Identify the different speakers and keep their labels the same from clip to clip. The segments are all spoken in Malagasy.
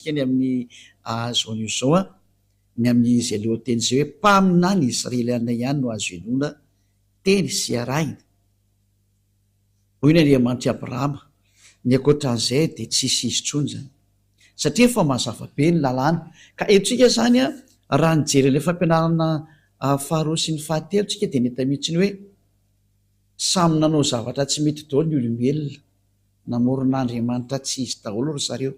Speaker 1: Teny amin'ny Zone Uzo, ny amin'izy lohanteny izay hoe mpaminany Israeliana ihany no azo inoana teny sy arahina. Hoy ny Andriamanitr'i Abrahama, Ny ankoatra an'izay dia tsy hisy izy intsony izany. Satria efa mazava be ny lalàna. Ka henontsika izany raha nijery an'ilay fampianarana faharoa sy ny fahatelo isika dia nahita mihitsy ny hoe samy nanao zavatra tsy mety daholo ny olombelona. Namorona andriamanitra tsy izy daholo ry zareo.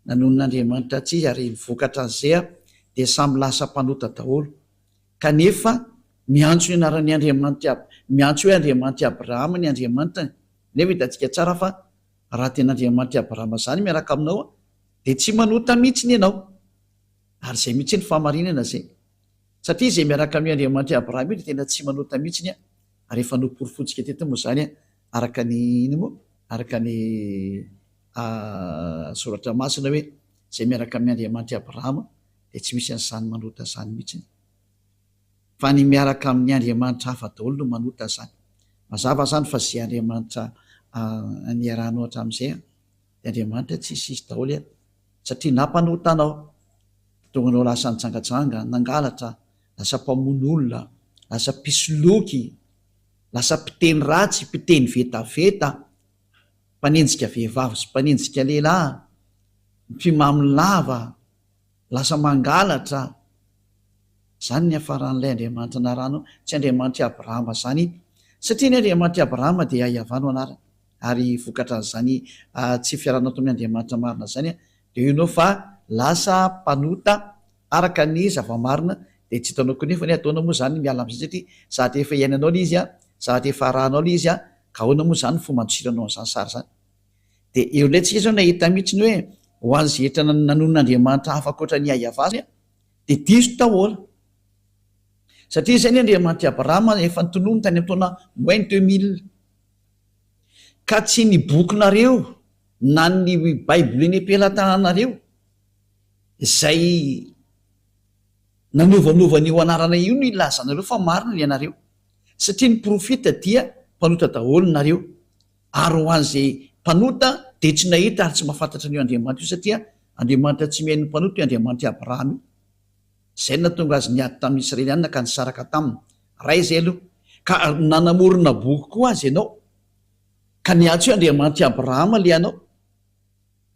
Speaker 1: Nanonona andriamanitra tsy izy ary ny vokatra azea dia samy lasa mpanota daholo. Kanefa miantso ny anaran'ny andriamanitry Ab, miantso hoe andriamanitry Abrahama ny Andriamanitra e. Nefa hitantsika tsara fa raha tena andriamanitry Abrahama zany miaraka aminao dia tsy manota mihitsiny ianao. Ary zay mihitsy ny fahamarinana zay. Satria izay miaraka amin'io andriamanitry Abrahama io dia tena tsy manota mihitsiny ary efa noporofontsika teto moa zany Araka ny inona moa? Araka ny Soratra Masina hoe, Izay miaraka amin' Andriamanitr'i Abrahama dia tsy misy an'izany manota izany mihitsy. Fa ny miaraka amin'ny andriamanitra hafa daholo no manota izany. Mazava izany fa izay andriamanitra niarahanao hatramin'izay dia andriamanitra tsy hisy hisy daholo an! Satria nampanota anao, nahatonga anao lasa nijangajanga, nangalatra, lasa mpamono olona, lasa mpisoloky. Lasa mpiteny ratsy, mpiteny vetaveta, mpanenjika vehivavy sy mpanenjika lehilahy, mpimamy lava, lasa mangalatra. Izany no niafaran'ilay Andriamanitry ny Harano, tsy Andriamanitr'i Abrahama izany, satria ny Andriamanitr'i Abrahama dia Iahavà no anarany, ary vokatran'izany tsy fiaraha-nataon'ny Andriamanitra marina izany dia io no fa lasa mpanota, Araka ny zava-marina dia tsy hitanao koa nefa anie ataonao moa izany ny miala amin'izay satria sady efa iainanao ilay izy an, sady efa arahanao ilay izy an, ka ahoana moa izany ny fomba andosiranao an'izany sary izany? Dia eo indray tsika zao nahita mihitsy ny hoe ho an'izay hetra nanonon'Andriamanitra hafa ankoatra an'i Iahiavah zany an, dia diso daholo. Satria izay ny Andriamanitr'i Abrahama an, efa notononiny tany amin'ny taona moins deux mille. Ka tsy ny bokinareo na ny Baibolin'ny am-pelatananareo. izay nanovanova an'io anarana io no ilazanareo fa marina ianareo satria ny profita dia mpanota daholo nareo ary ho an'izay mpanota dia tsy nahita ary tsy mahafantatra an'io Andriamanitra io satria Andriamanitra tsy mihaino ny mpanota io Andriamanitra Abraham io izay no nahatonga azy niady tamin'ny Israelianina ka nisaraka taminy raha izay aloha ka nanamorona boky koa azy ianao ka ny atsy io Andriamanitra Abraham le anao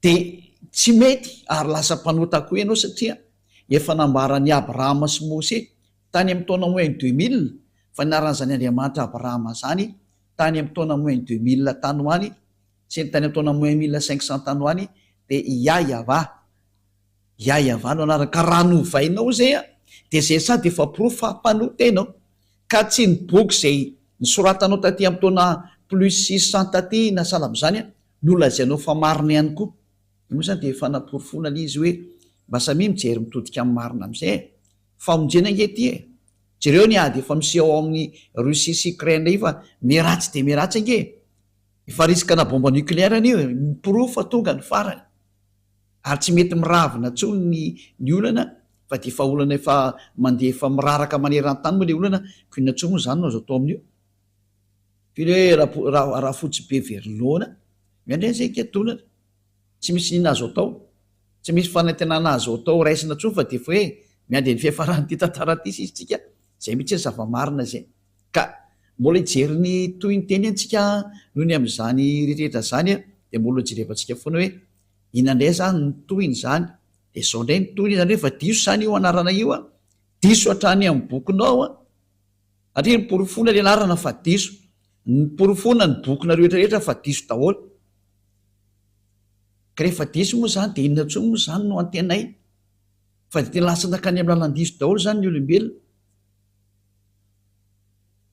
Speaker 1: Dia tsy mety ary lasa mpanota koa ianao satria efa nambara an'i Abrahama sy Mose tany amin'ny taona moins deux mille fa nianaran'izany Andriamanitra Abrahama izany tany amin'ny taona moins deux mille tany ho any sy ny tany amin'ny taona moins mille cinq cents tany ho any dia i Yahva Yahva no anarany ka raha novainao izay an dia izay sady efa porofo fa mpanota ianao ka tsy ny boky izay nisoratanao taty amin'ny taona plus six cents taty na sahala amin'izany an Nolazainao fa marina ihany koa. Dia moa izany dia efa namporofoina ilay izy hoe mba samia mijery mitodika amin'ny marina amin'izay e! Famonjena ange ity e! Jereo ny ady efa miseho ao amin'ny Russie sy Ukraine indray fa miharatsy dia miharatsy ange e! Efa riskana bomba nucléaire anio e! Miporofo fa tonga ny farany. Ary tsy mety miravina intsony ny ny olana fa dia efa olana efa mandeha efa miraraka maneran-tany moa ilay olana koa inona intsony moa izany no azo atao amin'io? Tena hoe rapo- ra- rafotsy be very noana. Miandry an'izay higadonana. Tsy misy inona azo atao. Tsy misy fanantenana azo atao raisina intsony fa dia efa hoe miandry ny fiafaran'ity tantara ity sisa isika. Izay mihitsy ny zava-marina izay. Ka mbola hijery ny tohin'ny teniny tsika noho ny amin'izany rehetra izany an, dia mbola hojerevantsika foana hoe inona indray izany ny tohin'izany. Dia izao indray ny tohiny, izany hoe efa diso izany io anarana io an, diso hatrany amin'ny bokinao an. Satria noporofoina ilay laharana fa diso. Noporofoina ny bokinareo rehetrarehetra fa diso daholo. Ka rehefa diso moa izany dia inona intsony moa izany no antenaina? Fa dia tena lasa nankany amin'ny lalan-diso daholo izany ny olombelona.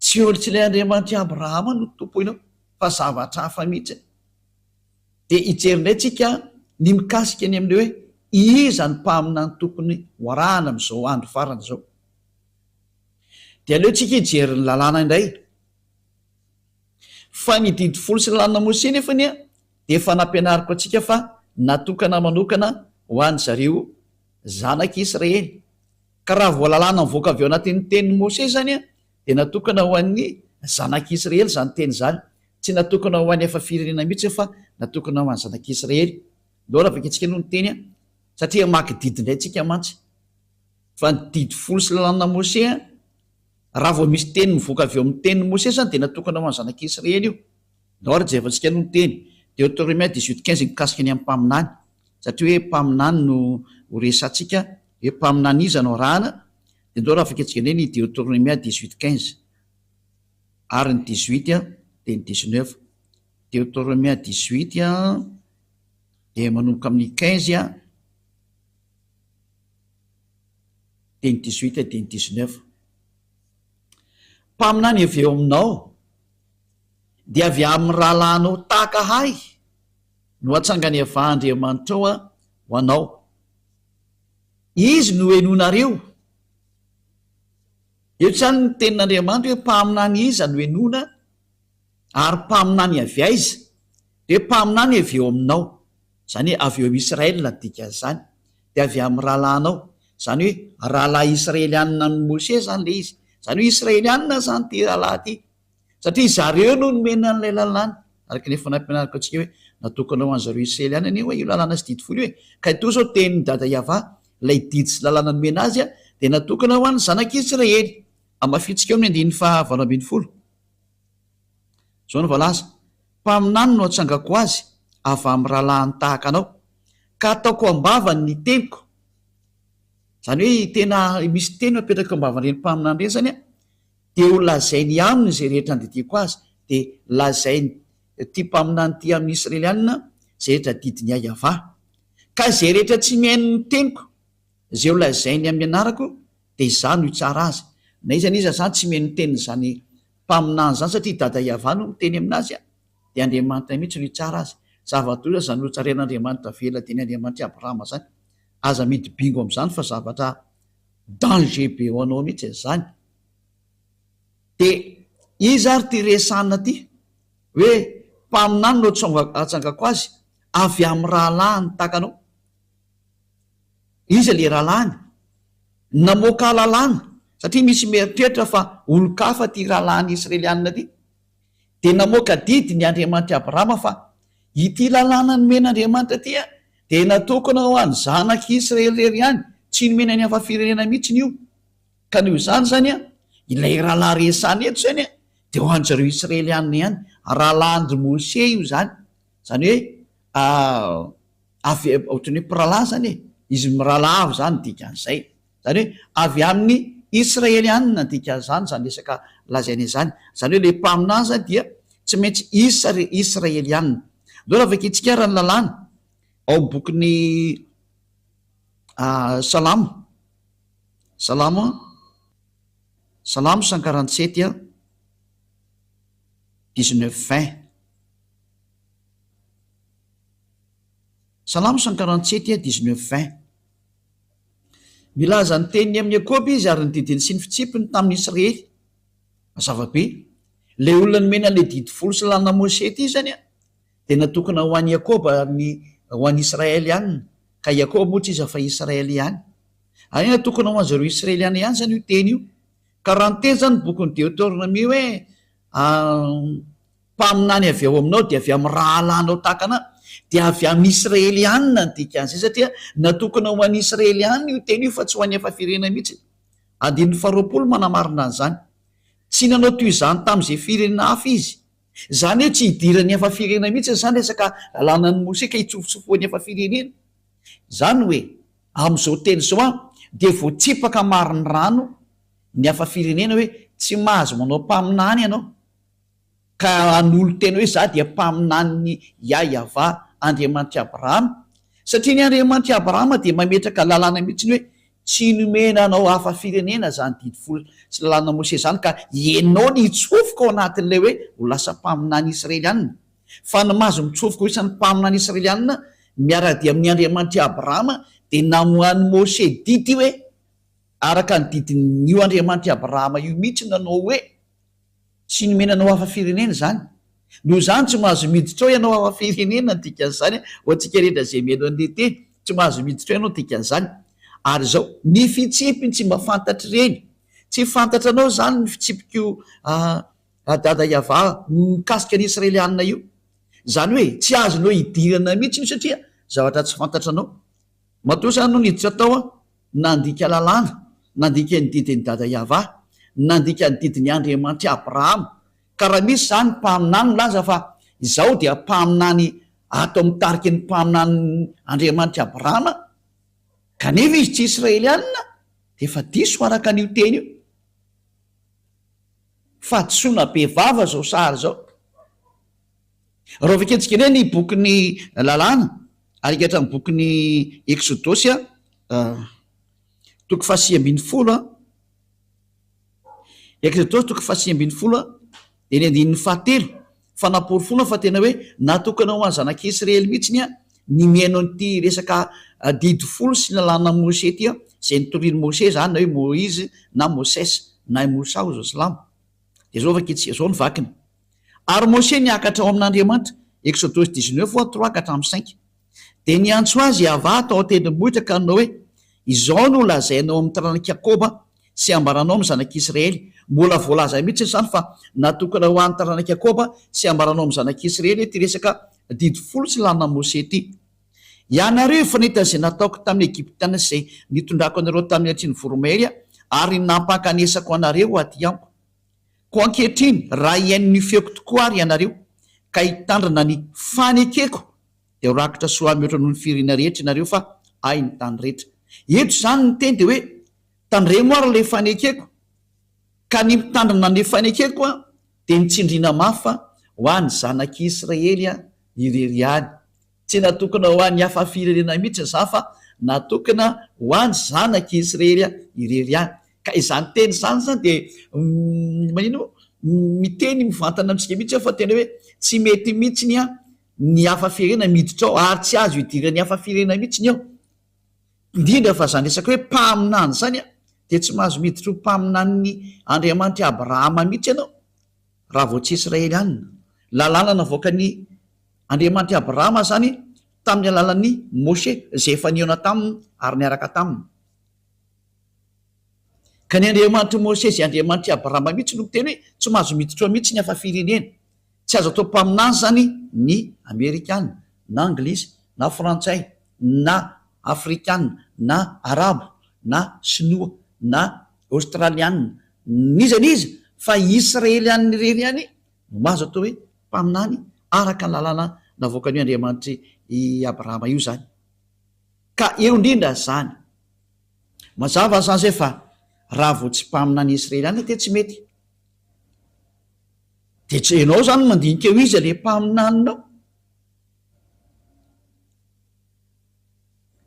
Speaker 1: Tsy eo, tsy ilay Andriamanitr'i Abrahama no tompoinao fa zavatra hafa mihitsy. Dia hijery indray tsika ny mikasika ny amin'ny hoe iza ny mpaminany tokony ho arahana amin'izao andro farany izao. Dia aleontsika hijery ny lalàna indray. Fa ny didy folo sy ny lalàna Mose nefa anie dia efa nampianariko antsika fa natokana manokana ho an-dry zareo zanak'i Israely. Ka raha vao lalàna mivoaka avy ao anatin'ny tenin'i Mose izany dia natokana ho an'ny zanak'i Israely izany teny izany. Tsy natokana ho an'ny hafa firenena mihitsy fa natokana ho an'ny zanak'i Israely. Ndao ravaketsika aloha ny teny satria hamaky didy indray tsika mantsy. Fa ny Didy Folo sy ny Lalànan'i Mosè, raha vao misy teny mivoaka avy eo amin'ny tenin'i Mosè izany dia natokana ho an'ny zanak'i Israely io. Ny Ordre izay efantsika no niteny, Deotoremia dix-huit quinze mikasika ny amin'ny mpaminany, satria hoe mpaminany no ho resahantsika, hoe mpaminany iza no arahana, dia indreo raha afaka iantsoana hoe ny Deotoremia dix-huit quinze. Ary ny dix-huit dia ny dix-neuf. Deotoremia dix-huit dia manomboka amin'ny quinze. Teny dix-huit et teny dix-neuf. Mpaminany avy eo aminao dia avy amin'ny rahalahinao tahaka ahy no atsanganevan'Andriamanitrao ho anao. Izy no henoinareo. Eto izany ny tenin'Andriamanitra hoe mpaminany iza no henoina ary mpaminany avy aiza? Dia mpaminany avy eo aminao. Izany hoe avy eo Israel ny dikan'izany, dia avy amin'ny rahalahinao. Izany hoe rahalahy Israelianina amin'i Moshe izany ilay izy. Izany hoe Israelianina izany ity rahalahy ity, satria izy ireo no nomena an'ilay lalàna, araka ny efa nampianariko antsika hoe natokana ho an'i zareo Israelianina anie hoe io lalàna sy didy folo io e. Ka ito izao tenin'i Dada Yavah, ilay didy sy lalàna nomena azy dia natokana ho an'ny zanak'i Israely. Hamafintsika eo amin'ny andininy faha valo ambin'ny folo. Izao no voalaza. Mpaminany no atsangako azy avy amin'ny rahalahiny tahaka anao, ka ataoko am-bavany ny teniko, izany hoe tena misy teny apetraka eo am-bavan'ireny mpaminany ireny izany an, dia ho lazainy aminy izay rehetra andidiako azy, dia lazain'ity mpaminany ity amin'ny Israelianina izay rehetra adidin'i Iahiavah. Ka izay rehetra tsy mihaino ny teniko, izay ho lazainy amin'ny anarako, dia izaho no hitsara azy. Na iza na iza izany tsy mihaino ny tenin'izany. mpaminany izany satria i Dada Yavah no miteny aminazy a! dia Andriamanitra mihitsy no hitsara azy, zava-doza izany notsaren'Andriamanitra avela dieny Andriamanitra i Abrahama izany, aza mihidy bingo amin'izany fa zavatra danger be ho anao mihitsy izany, dia iza ary ity resahina ity hoe mpaminany no atsangako azy avy amin'ny rahalahy nitaka anao? Iza ilay rahalahiny? Namoaka lalàna, satria misy mieritreritra fa olon-kafa ity rahalahiny Israelianina ity. Dia namoaka didy ny Andriamanitr'i Abrahama fa, Ity lalàna nomen'Andriamanitra ity dia natokana ho an'ny zanak'i Israely irery ihany, tsy nomena ny hafa firenena mihitsiny io. Ka noho izany izany, ilay rahalahy resahina eto izany dia ho an'dry zareo Israelianina ihany. Rahalahin-dry Mosè io izany, izany hoe, avy ohatran'ny hoe mpirahalahy izany e, izy mirahalahy avy izany ny dikan'izay, izany hoe avy amin'ny Israelianina ny dikan'izany izany resaka lazaina izany, izany hoe ilay mpaminany dia tsy maintsy Israelianina. Andao navakintsika ary ny lalàna ao amin'ny bokin'ny Salamo, Salamo, Salamo cent quarante sept dix neuf vingt. Salamo cent quarante sept et dix neuf vingt. Milaza ny teniny amin'i Jakoba Izy ary ny didiny sy ny fitsipiny tamin'i Israely. Mazava be, ilay olona nomena an'ilay Didy folo sy lalana Mosè ity izany dia natokana ho an'i Jakoba ary ny ho an'i Israely ihany, ka Jakoba moa tsy iza fa Israely ihany. Ary natokana ho an'izareo Israeliana ihany izany io teny io. Ka raha niteny izany ny bokin'i Deoteronomia hoe, Mpaminany avy ao aminao dia avy amin'ny rahalahinao tahaka anà, dia avy amin'ny Israelianina ny dikan'izay, satria natokana ho an'ny Israelianina io teny io fa tsy ho an'ny hafa firenena mihitsy. Andininy faharoapolo manamarina an'izany. Tsy nanao toy izany tamin'izay firenena hafa izy. Izany hoe tsy hidiran'ny hafa firenena mihitsy ny samy resaka lalànan'i Mosesy ka hitsofotsofohan'ny hafa firenena. Izany hoe, amin'izao teny izao an, dia voatsipaka marin'ny rano ny hafa firenena hoe tsy mahazo manao mpaminany ianao. ka hanolo-tena hoe, Izaho dia mpaminanin'i Iahiavà, Andriamanitr'i Abrahama, satria ny Andriamanitr'i Abrahama dia mametraka lalàna mihitsy hoe, Tsy nomena anao hafa firenena izany Didy Folo sy Lalànan'i Mosesy izany, ka ianao ny hitsofoka ao anatin'ilay hoe ho lasa mpaminany Israelianina. Fa ny maha azy mitsofoka ho isan'ny mpaminany Israelianina miara-dia amin'ny Andriamanitr'i Abrahama dia namoahan'i Mosesy didy hoe, Araka ny didin'io Andriamanitr'i Abrahama io mihitsy no nanao hoe, Tsy nomena anao hafa firenena izany. Noho izany tsy mahazo miditra ao ianao hafa firenena ny dikan'izany ho antsika rehetra izay mihaino an'ilay teny, tsy mahazo miditra ao ianao ny dikan'izany. Ary izao, ny fitsipiny tsy mba fantatr'ireny. Tsy fantatranao izany ny fitsipiko ry Dada Yavah mikasika ny Israelianina io. Izany hoe tsy azonao idirana mihitsy io satria zavatra tsy fantatranao. Matoa sa no niditra tao aho, nandika lalàna, nandika ny didin'i Dada Yavah, nandika ny didin'i Andriamanitr'i Abrahama, ka raha misy izany mpaminany milaza fa izaho dia mpaminany ato amin'ny tariky ny mpaminanin'i Andriamanitr'i Abrahama, kanefa izy tsy Israelianina, dia efa diso araka an'io teny io. Fahadisoana bevava izao sary izao. Raha vakiantsika indray ny bokin'ny Lalàna, ary hika hatramin'ny bokin'ny Eksodosy, toko fahasivy ambin'ny folo, Eksodosy toko fahasivy ambin'ny folo, eny andininy fahatelo, fa namporofoana fa tena hoe natokana ho an'ny zanak'i Isiraely mihitsy ny mihaino an'ity resaka Didy folo sy ny Lalànan'i Mosè ity, izay notorian'i Mosè izany, na hoe Moizy na Moses, na i Mosa hoy izao silamo. Dia izao vakiantsika, izao ny vakiny. Ary Mosè niakatra ao amin' Andriamanitra, Eksôdôsy dix-neuf fois trois ka hatramin' ny cinq. Dia niantso azy Iavàha tao an-tendrombohitra ka nanao hoe, Izao no lazainao amin' ny taranak'i Jakôba sy ambaranao amin' ny zanak' Isiraely, Mbola voalaza mihitsy izany fa natokana ho an' ny taranak' i Jakôba sy ambaranao amin' ny zanak' Isiraely ity resaka Didy folo tsy lanin' an' Mosè ity, Ianareo efa nahita izay nataoko tamin' ny Egiptiana sy izay nitondrako anareo tamin' ny Atsian' ny Voromahery ary nampankanesako anareo aty amiko. Koa ankehitriny, raha hihaino ny feoko tokoa àry ianareo, ka hitandrina ny fanekeko, dia ho rakitra soa mihoatra noho ny firiana rehetra ianareo, fa Ahy ny tany rehetra. Eto izany ny teny dia hoe, Tandremo àry ilay fanekeko, ka ny mitandrina ny fanekeko dia ny tsindriana mafy fa ho an'ny zanak'i Israely irery ihany Tsy natokona ho an'ny hafa firenena mihitsy ny za fa natokona ho an'ny zanak' i Isrery irery ihany. Ka izany teny izany zany dia manino? Miteny mivantana amintsika mihitsy aho fa tena hoe tsy mety mihitsiny ny hafa firenena miditra ao ary tsy azo idiran'ny hafa firenena mihitsiny ao. Indrindra fa izany resaka hoe mpaminany izany dia tsy mahazo miditra ho mpaminanin'ny Andriamanitr' i Abrahama mihitsy ianao raha vao tsy Israelianina. Lalàna navoakan'i. Andriamanitr'i Abrahama izany tamin'ny alalan'i Moshe izay efa nihaona taminy ary niaraka taminy. Ka ny Andriamanitr'i Moshe izay Andriamanitr'i Abrahama mihitsy no miteny hoe tsy mahazo miditra mihitsy ny hafa firenena. Tsy azo atao mpaminany izany ny Amerikana, na Anglisy, na Frantsay, na Afrikana, na Arabo, na Sinoa, na Aostraliana, n'iza n'iza, fa Israeliana irery ihany Milaza ohatra hoe mpaminany araka ny lalàna navoakan'io Andriamanitry i Abrahama io izany. Ka eo indrindra izany. Mazava izany izay fa raha vao tsy mpaminany Israeliana dia tsy mety. Dia tsy ianao izany no mandinika eo iza ilay mpaminaninao.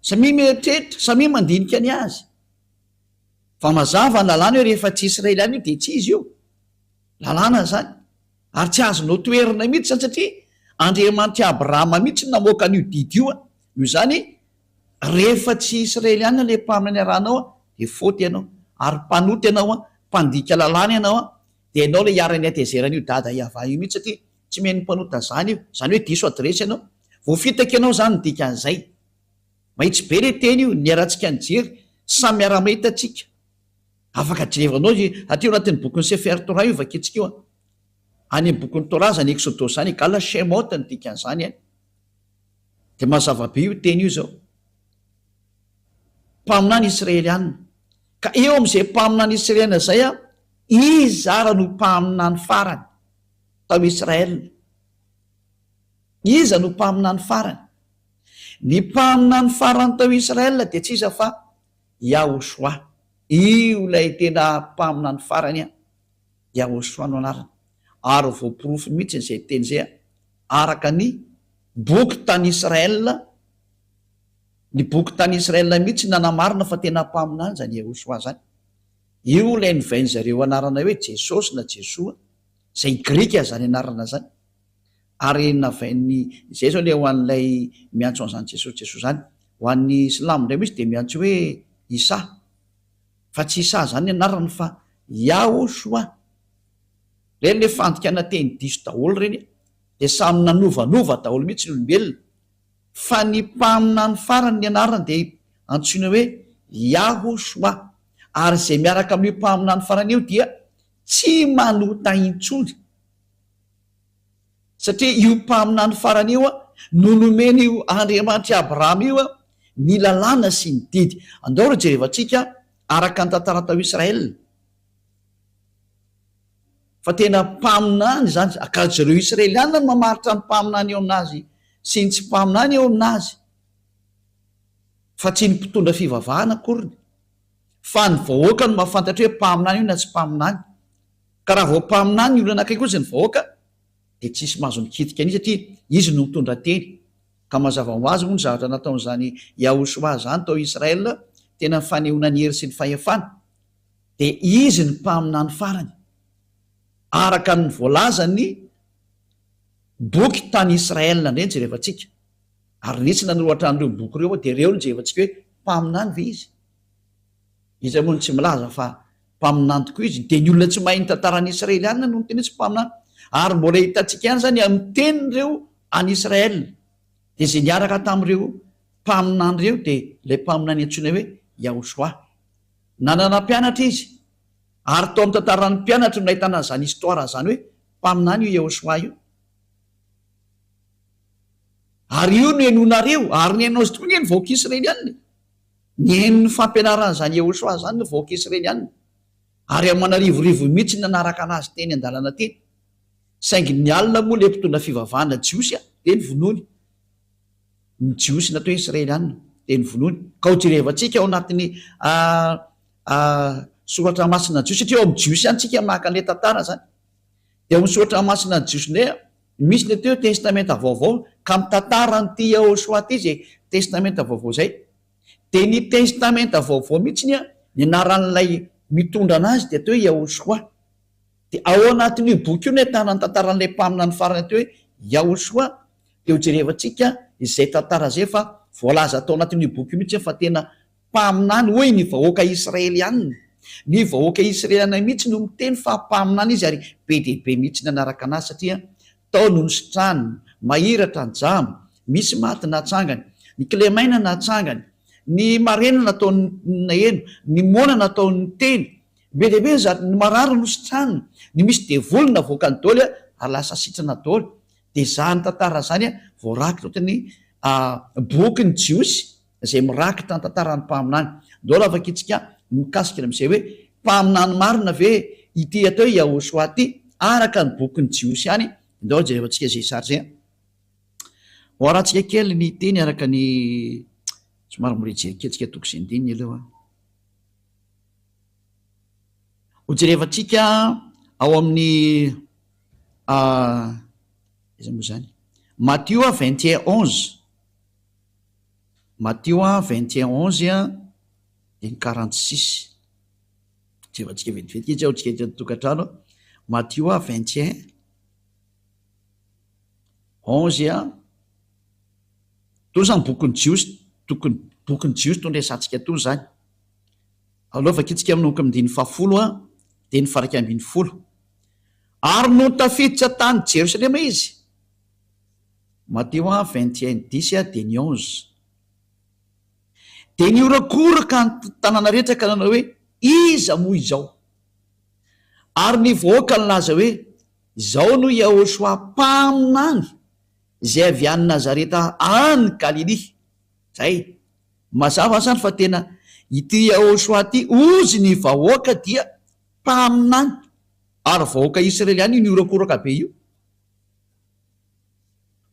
Speaker 1: Samia mieritreritra, samia mandinika ny azy. Fa mazava ny lalàna hoe rehefa tsy Israeliana io dia tsy izy io. Lalàna izany. Ary tsy azo notoherina mihitsy izany satria Andriamanitr'i Abrahama mihitsy no namoaka an'io didy io. Noho izany, rehefa tsy Israeliana ilay mpaminany iarahanao dia faute ianao. Ary mpanota ianao, mpandika lalàna ianao. Dia ianao ilay iharan'ny hatezeran'io Dada Yavah io mihitsy satria tsy mihaino mpanota zany io. Izany hoe diso adiresy ianao. Voafitaka ianao izany ny dikan'izay. Mahitsy be le teny io, niharantsika nijery, samy miara-mahita tsika. Afaka jerevanao izy aty ao anatin'ny bokin'i Sefer Torah io vakintsika io an! Any amin'ny bokin'ny Torah zany Exodos zany e, Gala Shemot no dikan'izany an! Dia mazava be io teny io izao. Mpaminany Israeliana. Ka eo amin'izay mpaminany Israeliana izay an, izy ara no mpaminany farany tao Israel. Iza no mpaminany farany? Ny mpaminany farany tao Israël dia tsy iza fa Yahoshua. Io ilay tena mpaminany farany an! Yahoshua no anarany. Ary voaporofo mihitsy izay teny izay araka ny boky tany Israël. Ny boky tany Israël mihitsy nanamarina fa tena mpaminany izany Yahoshua izany. Io ilay novain'izareo anarana hoe Jesosy na Jesoa, izay grika izany anarana izany. Ary navain'ny, izay zao le ho an'ilay miantso an'izany Jesosy Jesosy izany. Ho an'ny silamo indray misy dia miantso hoe Isa. Fa tsy Isa izany ny anarany fa Yahoshua. Ireny le fandikana teny diso daholo ireny e. Dia samy nanovanova daholo mihitsy ny olombelona. Fa ny mpaminany farany ny anarany dia antsoina hoe Yahoshua. Ary izay miaraka amin'io mpaminany farany io dia tsy manota intsony. satria io mpaminany farany io no nomen' io Andriamanitr' i Abrahama io ny lalàna sy ny didy. Andao ry jerevantsika araka ny tantara tao Israël fa tena mpaminany izany, ka jereo Israeliana no mamaritra ny mpaminany eo amin' azy sy ny tsy mpaminany eo amin' azy fa tsy ny mpitondra fivavahana akoriny, fa ny vahoaka no mahafantatra hoe mpaminany io na tsy mpaminany. Ka raha vao mpaminany ny olona anankiray kosa ny vahoaka dia tsy hisy mahazo mikitika an'io satria izy no mitondra teny. Ka mazava ho azy moa ny zavatra nataon'izany Yahoshuah izany tao Israël, tena ny fanehoana ny hery sy ny fahefana. Dia izy ny mpaminany farany. Araka ny voalazan'ny boky tany Israël indray ny jerevantsika. Ary nisy nanoro hatrany ireo boky ireo aho dia ireo no jerevantsika hoe mpaminany ve izy? Iza moa no tsy milaza fa mpaminany tokoa izy? Dia ny olona tsy mahay ny tantaran'ny Israelianina no niteny hoe tsy mpaminany. Ary mbola hitantsika ihany izany amin'ny tenin'ireo any Israel. Dia izay niaraka tamin'ireo mpaminany ireo dia ilay mpaminany antsoina hoe Yahoshua. Nanana mpianatra izy. Ary tao amin'ny tantaran'ny mpianatry no nahitana izany histoire izany hoe mpaminany io Yahoshua io. Ary io no henoinareo. Ary ny haino azy tokoa ange ny vahoaka Israelianina e. Niheno ny fampianaran'izany Yehosua izany ny vahoaka Israeliana, ary aman'arivorivo mihitsy ny nanaraka anazy teny an-dalana teny. Saingy ny alina moa ilay mpitondra fivavahana jiosy dia novonoiny. Ny Jiosy na hoe Israeliana dia novonoiny. Ka hojerevantsika ao anatin'ny soratra masina jiosy, satria ao amin'ny Jiosy ihany isika maka an'ilay tantara izany. dia misaotra masina ny jiosy ndray a! misy le teo testamenta vaovao ka mitantara an'ity Yahoshua ty zay testamenta vaovao zay dia ny testamenta vaovao mihitsiny a ny anaran'ilay mitondra anazy dia atao hoe Yahoshua dia ao anatin'io boky io no ahitana ny tantaran'ilay mpaminany farany atao hoe Yahoshua dia hojerevantsika izay tantara izay fa voalaza tao anatin'io boky io mihitsy fa tena Mpaminany hoy ny vahoaka Israeliana. Ny vahoaka Israeliana mihitsy no miteny fa mpaminany izy ary be dia be mihitsy ny hanaraka anazy satria tao no nisitrahany, mahiratra ny jamba, misy maty natsangany, ny kilemaina natsangany, ny marena nataony naheno, ny moana nataony niteny, be dia be ny zatra, ny marary nositrahany, ny misy devoly navoakany doly ary lasa sitrana doly, dia zany tantara zany voarakitra ohatran'ny boky ny jiosy izay mirakitra ny tantaran'ny mpaminany. Andao ravaka itsika ny mikasika ny amin'izay hoe, mpaminany marina ve ity atao hoe Yahoshua ity araka ny bokin'ny Jiosy ihany? Andao jerevantsika izay sary izay. Hoarantsika kely ny teny araka ny somary mirejery kely tsika toko sy andininy aloha. Hojerevantsika ao amin'ny ah, izay moa izany, Matio 21 11. Matio vingt et un onze et quarante six, jerentsika vetivety kely tsy ahoantsika ety an-tokantrano an! Matio vingt et un onze et Itony izany bokin'ny Jiosy tokony bokin'ny Jiosy itony resahantsika itony izany. Aleo vakiantsika manomboka amin'ny andininy fahafolo dia ny faha-iraika ambin'ny folo, Ary nony tafiditra tany Jerosalema izy Mateo a vingt et un dix a dia ny onze dia nihorakoraka ny tanàna rehetra ka nanao hoe, Iza moa izao? Ary ny vahoaka nilaza hoe, Izao no Iahôshua mpaminany izay avy any Nazareta any Galilia. Izay. Mazava izany fa tena ity Iahôshua ity hozy ny vahoaka dia mpaminany ary vahoaka Israeliana io nihorakoraka be io.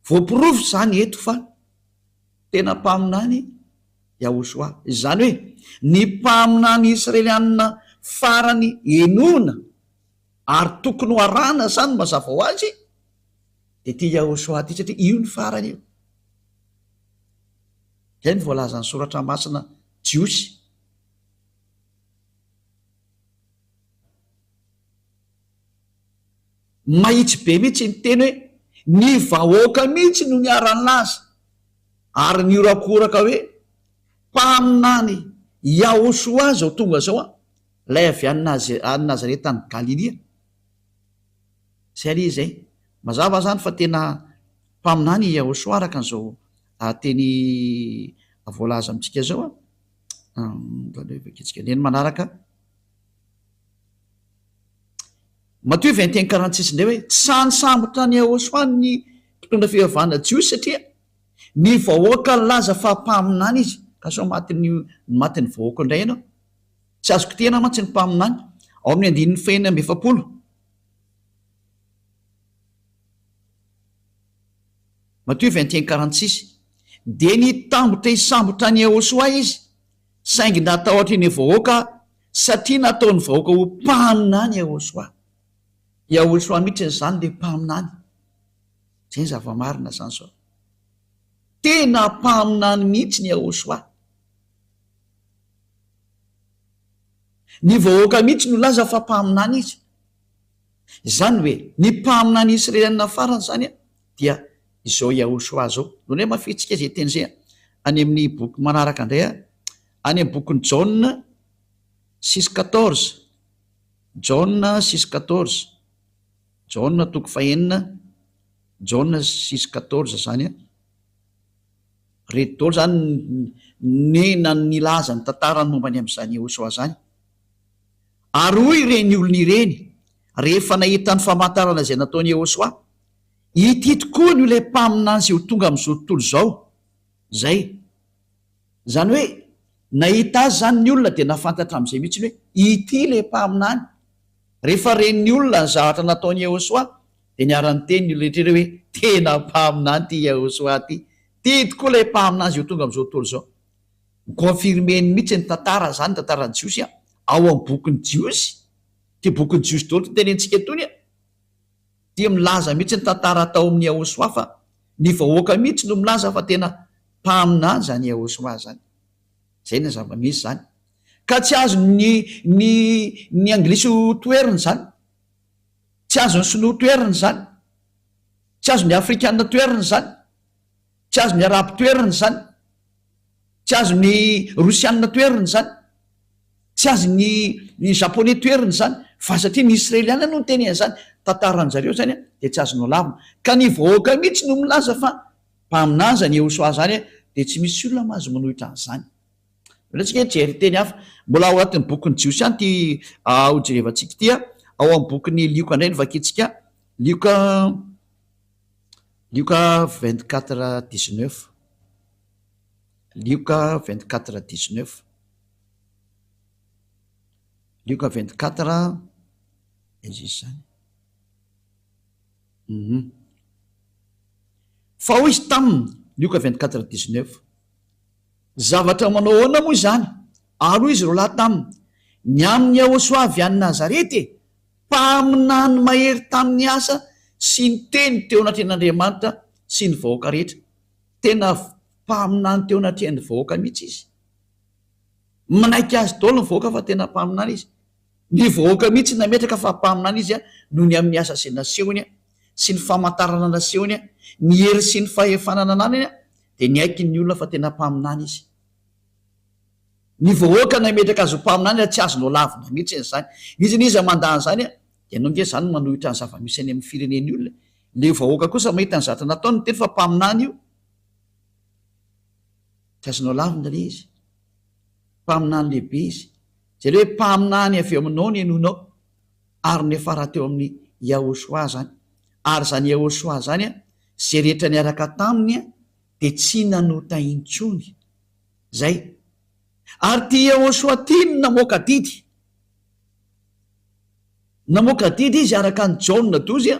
Speaker 1: Voaporofo izany eto fa tena mpaminany Yahoshua. Izany hoe ny mpaminany Israelianina farany henoina ary tokony ho arahana izany mazava ho azy dia ity Yahoshua ity satria io no farany io. Izay no voalazan'ny Soratra Masina Jiosy. Mahitsy be mihitsy iny teny hoe ny vahoaka mihitsy no niara-nilaza ary nihorakoraka hoe mpaminany Yahoshua izao tonga izao an, ilay avy any Nazareta any Galilia. Izay anie izay. Mazava izany fa tena mpaminany i Yahoshua araka an'izao teny voalaza amintsika izao an. Ndeha ny manaraka. Matoa i Vaintin Karantsisy indray hoe tsy sahy nisambotra an'i Yahoshuah ny mpitondra fivavahana jiosy satria ny vahoaka nilaza fa mpaminany izy. Ka sao matin'ny matin'ny vahoaka indray ianao? Tsy azo kitihana mantsy ny mpaminany. Ao amin'ny andininy fahenina amby efapolo. Matoa Vaintin Karantsisy dia nitambotra hisambotra an'i Yahoshuah izy. saingy natahotra eny vahoaka satria nataony vahoaka ho mpaminany Yahoshua. Yahoshua mihitsy izany le mpaminany. Zay ny zava-marina zany zao. Tena mpaminany mihitsy ny Yahoshua. Ny vahoaka mihitsy no laza fa mpaminany izy. Zany hoe ny mpaminany Israelianina farany zany dia izao Yahushua zao. Lonay mafy antsika izay teny izay any amin'ny boky manaraka indray any amin'ny bokin'i Jaona six quatorze, Jaona six quatorze, Jaona toko fahenina, Jaona six quatorze zany an. Reto daholo zany ny nilaza ny tantarany momba ny amin'izany Yahushua zany. Ary hoy ireny olona ireny rehefa nahita ny famantarana izay nataon'i Yahushua, Ity tokoa no ilay mpaminany sy ho tonga amin'izao tontolo izao izay. Izany hoe nahita azy izany ny olona dia nahafantatra amin'izay mihitsy hoe ity ilay mpaminany. Rehefa ren'ny olona ny zavatra nataon'i Yehosua dia niara-niteny ny olona rehetra ireo hoe tena mpaminany ity Yehosua ity. Ity tokoa ilay mpaminany izay ho tonga amin'izao tontolo izao. Ni-confirmer-ny mihitsy ny tantara izany, ny tantaran'ny Jiosy ao amin'ny bokin'ny Jiosy. Ity bokin'ny Jiosy daholo ity tenenintsika itony. dia milaza mihitsy ny tantara tao amin'ny Yahushua fa ny vahoaka mihitsy no milaza fa tena mpaminany izany Yahushua izany. Izay no zava-misy izany. Ka tsy azon'ny ny ny anglisy ho toherina izany. Tsy azon'ny sinoa toherina izany. Tsy azon'ny afrikana toherina izany. Tsy azon'ny Arabo toerana izany. Tsy azon'ny Rosiana toerana izany. Tsy azon'ny Japoney toerana izany. Fa satria ny Israeliana no niteny an'izany, tantaran-dry zareo izany, dia tsy azonao lavina. Ka ny vahoaka mihitsy no milaza fa mpaminany izany Iehosoa izany, dia tsy misy olona mahazo manohitra an'izany. Aleo isika hijery teny hafa. Mbola ao anatin'ny bokin'ny Jiosy ihany ity hojerevantsika ity, ao amin'ny bokin'i Lioka indray no vakintsika, Lioka. Lioka vingt quatre dix neuf Lioka vingt quatre dix neuf Lioka vingt quatre izy izany fa hoy izy taminy Lioka vingt quatre dix neuf zavatra manao ahoana moa izany ary hoy izy roa lahy taminy ny amin'ny Iahosoa avy any Nazareta e! Mpaminany mahery tamin'ny asa sy ny teny teo anatrehan'Andriamanitra sy ny vahoaka rehetra. Tena mpaminany teo anatrehan'ny vahoaka mihitsy izy. Manaiky azy daholo ny vahoaka fa tena mpaminany izy. Ny vahoaka mihitsy nametraka fa mpaminany izy noho ny amin'ny asa izay nasehony sy ny famantarana nasehony, ny hery sy ny fahefana nananany dia niaiky ny olona fa tena mpaminany izy. Ny vahoaka no hametraka azy ho mpaminany raha tsy azo nolavina mihitsy izany. Izy anie izay mandà an'izany an! Ianao nge izany no manohitra ny zava-misy any amin'ny firenen'ny olona. Ilay vahoaka kosa mahita ny zatra nataony teto fa mpaminany io. Tsy azo nolavina ilay izy. Mpaminany lehibe izy. Izay ilay hoe mpaminany avy eo aminao no henoinao. Ary niafara teo amin'i Yahoshua izany. Ary izany Yahoshua izany an, izay rehetra niaraka taminy an, dia tsy nanota intsony. Zay. Ary ty Yehosoa ty no namoaka didy. Namoaka didy izy araka an'i Jaona dozy a.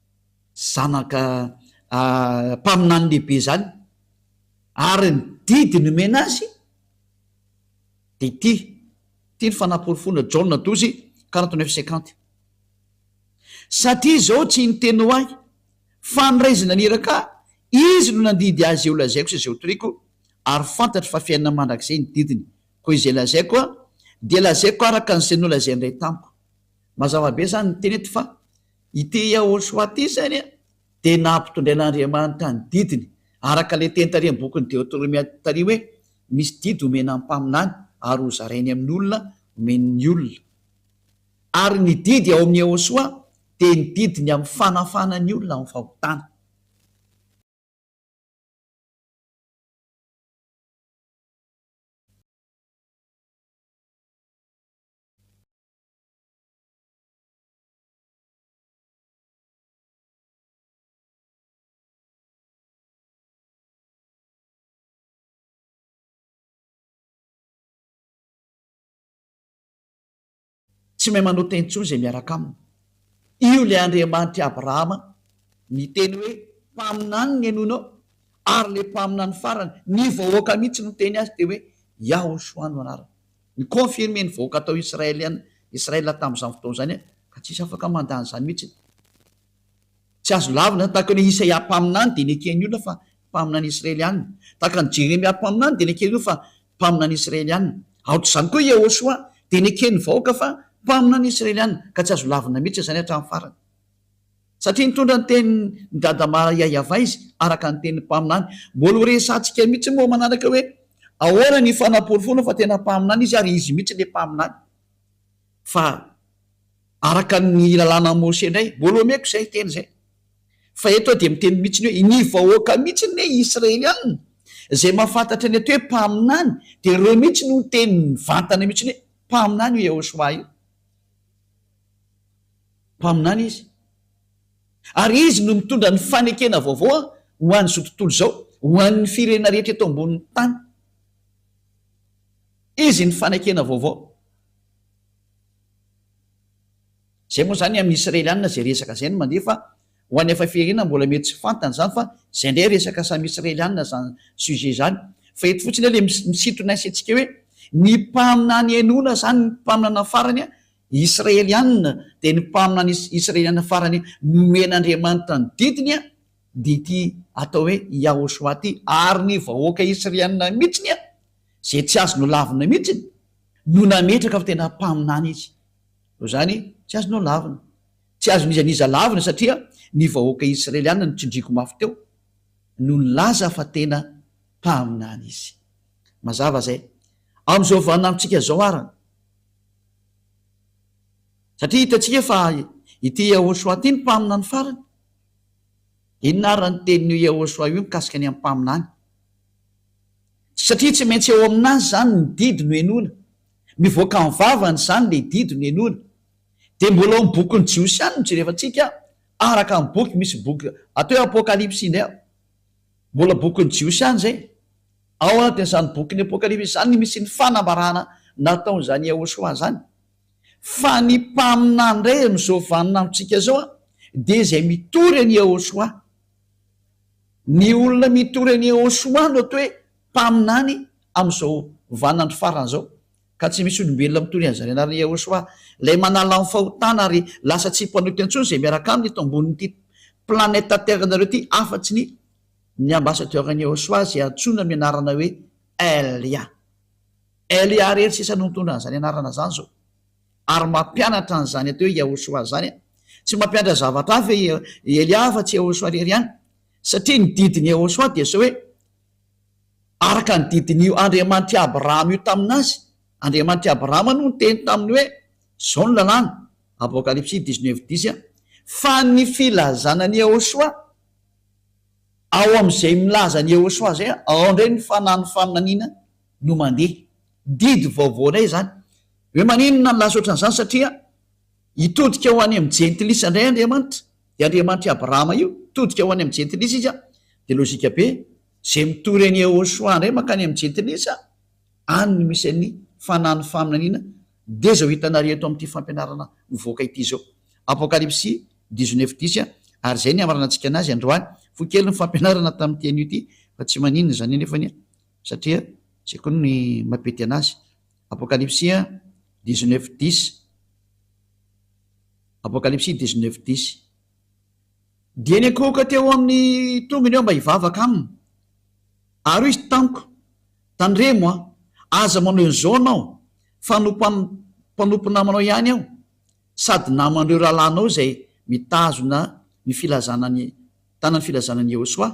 Speaker 1: zanaka mpaminany lehibe izany ary ny didy nomena azy dia ity, ity ny fanaporofoana Jaona douze quarante neuf cinquante, satria izao tsy ny teny ho ahy fa ny Ray naniraka ahy, Izy no nandidy ahy izay ho lazaiko sy izay ho toriako, ary fantatro fa fiainana mandrakizay ny didiny, koa izay lazaiko dia lazaiko araka an'izay nolazain'ny Ray tamiko. Mazava be izany ny teny eto fa Ity Yahoshuah ity izany dia nampitondrain'Andriamanitra ny didiny, araka ilay teny taorian'ny bokin'ny Deotoromia tary hoe, Misy didy homena ny mpaminany ary hozarainy amin'ny olona, homeny ny olona. Ary ny didy ao amin'i Yahoshuah dia ny didiny amin'ny fanafahana ny olona amin'ny fahotana. Tsy mahay manota intsony izay miaraka aminy. Io ilay Andriamanitr'i Abrahama niteny hoe, Mpaminany ny henoinao. Ary ilay mpaminany farany, ny vahoaka mihitsy no niteny azy dia hoe, Yahoshua no anarany. Ni-confirmer ny vahoaka tao Israelian, Israel tamin'izany fotoana izany ka tsisy afaka mandà an'izany mihitsy. Tsy azo lavina izany, tahaka ny hoe Isaia mpaminany dia neken'ny olona fa mpaminany Israeliana, tahaka ny Jeremia mpaminany dia neken'ny olona fa mpaminany Israeliana. Aok'izany koa Yehosua dia neken'ny vahoaka fa mpaminany Israeliana, ka tsy azo lavina mihitsy izany hatramin'ny farany. Satria nitondra ny tenin'i Dada Maria Yavaizy, araka ny tenin'ny mpaminany. Mbola ho resahantsika mihitsy moa manaraka hoe ahoana ny fanaporofoana fa tena mpaminany izy ary izy mihitsy ilay mpaminany. Fa araka ny lalànan'i Mosè indray, mbola omeko izay teny izay. Fa eto aho dia miteny mihitsy ny hoe ny vahoaka mihitsy ny hoe Israelianina izay mahafantatra ny atao hoe mpaminany dia ireo mihitsy no niteny mivantana mihitsy ny hoe mpaminany io Yehosua io. Mpaminany izy. Ary izy no mitondra ny fanekena vaovao ho an'izao tontolo izao, ho an'ny firenena rehetra eto ambonin'ny tany. Izy ny fanekena vaovao. Izay moa izany amin'ny Israelianina izay resaka izay no mandeha fa ho an'ny hafa firenena mbola mety tsy fantany izany fa izay indray resaka samy Israelianina izany sujet izany. Fa eto fotsiny ilay misintona ny saintsika hoe ny mpaminany henoina izany ny mpaminana farany Israeliana, dia ny mpaminany is, Israeliana farany nomen'Andriamanitra ny didiny a, dia ity atao hoe Yahoshua ity, ary ny vahoaka Israeliana mihitsiny a, izay tsy azo nolavina mihitsiny, no nametraka fa tena mpaminany izy. Noho izany, tsy azo nolavina. Tsy azon'iza n'iza lavina satria ny vahoaka Israeliana no tsindriako mafy teo, no nilaza fa tena mpaminany izy. Mazava izay. Amin'izao vaninandrontsika izao ara. Satria hitantsika fa ity Yahoshuah ity no mpaminany farany. Inona ary raha ny tenin'io Yahoshuah io mikasika ny amin'ny mpaminany? Satria tsy maintsy eo aminazy izany ny didy nohenoina. Mivoaka amin'ny vavany izany ilay didy nohenoina. Dia mbola ao amin'ny bokin'ny Jiosy ihany no jerevantsika araka ny boky misy boky atao hoe Apokalypsy indray. Mbola bokin'ny Jiosy ihany izay. Ao anatin'izany bokin'ny Apokalypsy izany no misy ny fanambarana nataon'izany Yahoshuah izany. Fa ny mpaminany indray amin'izao vaninandrontsika izao dia izay mitory an'i Yahoshuah. Ny olona mitory an'i Yahoshuah no atao hoe mpaminany amin'izao vaninandro farany izao. Ka tsy misy olombelona mitory an'izany anaran'i Yahoshuah, ilay manala ny fahotana ary lasa tsy mpanota intsony izay miaraka aminy eto ambonin'ity planeta Terre-nareo ity afa-tsy ny ny ambasadaoran'i Eosoa izay antsoina amin'ny anarana hoe Elia. Elia irery sisa no nitondra an'izany anarana izany izao. Ary mampianatra an'izany atao hoe Eosoa izany an! Tsy mampianatra zavatra hafa i Elia afa tsy Eosoa irery ihany, satria ny didin'i Eosoa dia izao hoe, Araka ny didin'io Andriamanitr'i Abrahama io tamin'azy, Andriamanitr'i Abrahama no niteny taminy hoe, Izao no lalàna, Apokalypsy dix-neuf dix, fa ny filazana an'i Eosoa Ao amin' izay milaza ny Eosoa izay ao indray ny fanahy ny faminaniana no mandeha. Didy vaovao indray izany. Hoe maninona nilaza ohatran' izany? Satria hitodika ho any amin' ny jentilisa indray Andriamanitra. Dia Andriamanitr' i Abrahama io. Hitodika ho any amin' ny jentilisa Izy. Dia lôjika be. Izay mitory an' i Eosoa indray mankany amin' ny jentilisa, any no misy an' ny fanahy ny faminaniana. Dia izao hitanareo eto amin'ity fampianarana mivoaka ity izao. Apokalypsy dix neuf dix ary izay ny hamaranantsika anazy androany. Fohy kely ny fampianarana tamin'ity anio ity fa tsy maninona izany anefa anie satria izay koa ny mampety anazy. Apokalypsy dix neuf dix Apokalypsy dix neuf dix Dia niankohoka teo amin'ny tongony aho mba hivavaka aminy. Ary hoy izy tamiko, Tandremo an! Aza manao izao anao fa mpanompo namanao ihany aho sady naman'ireo rahalahinao izay mitazona ny filazana ny tanan'ny filazana an'i Yehosoa.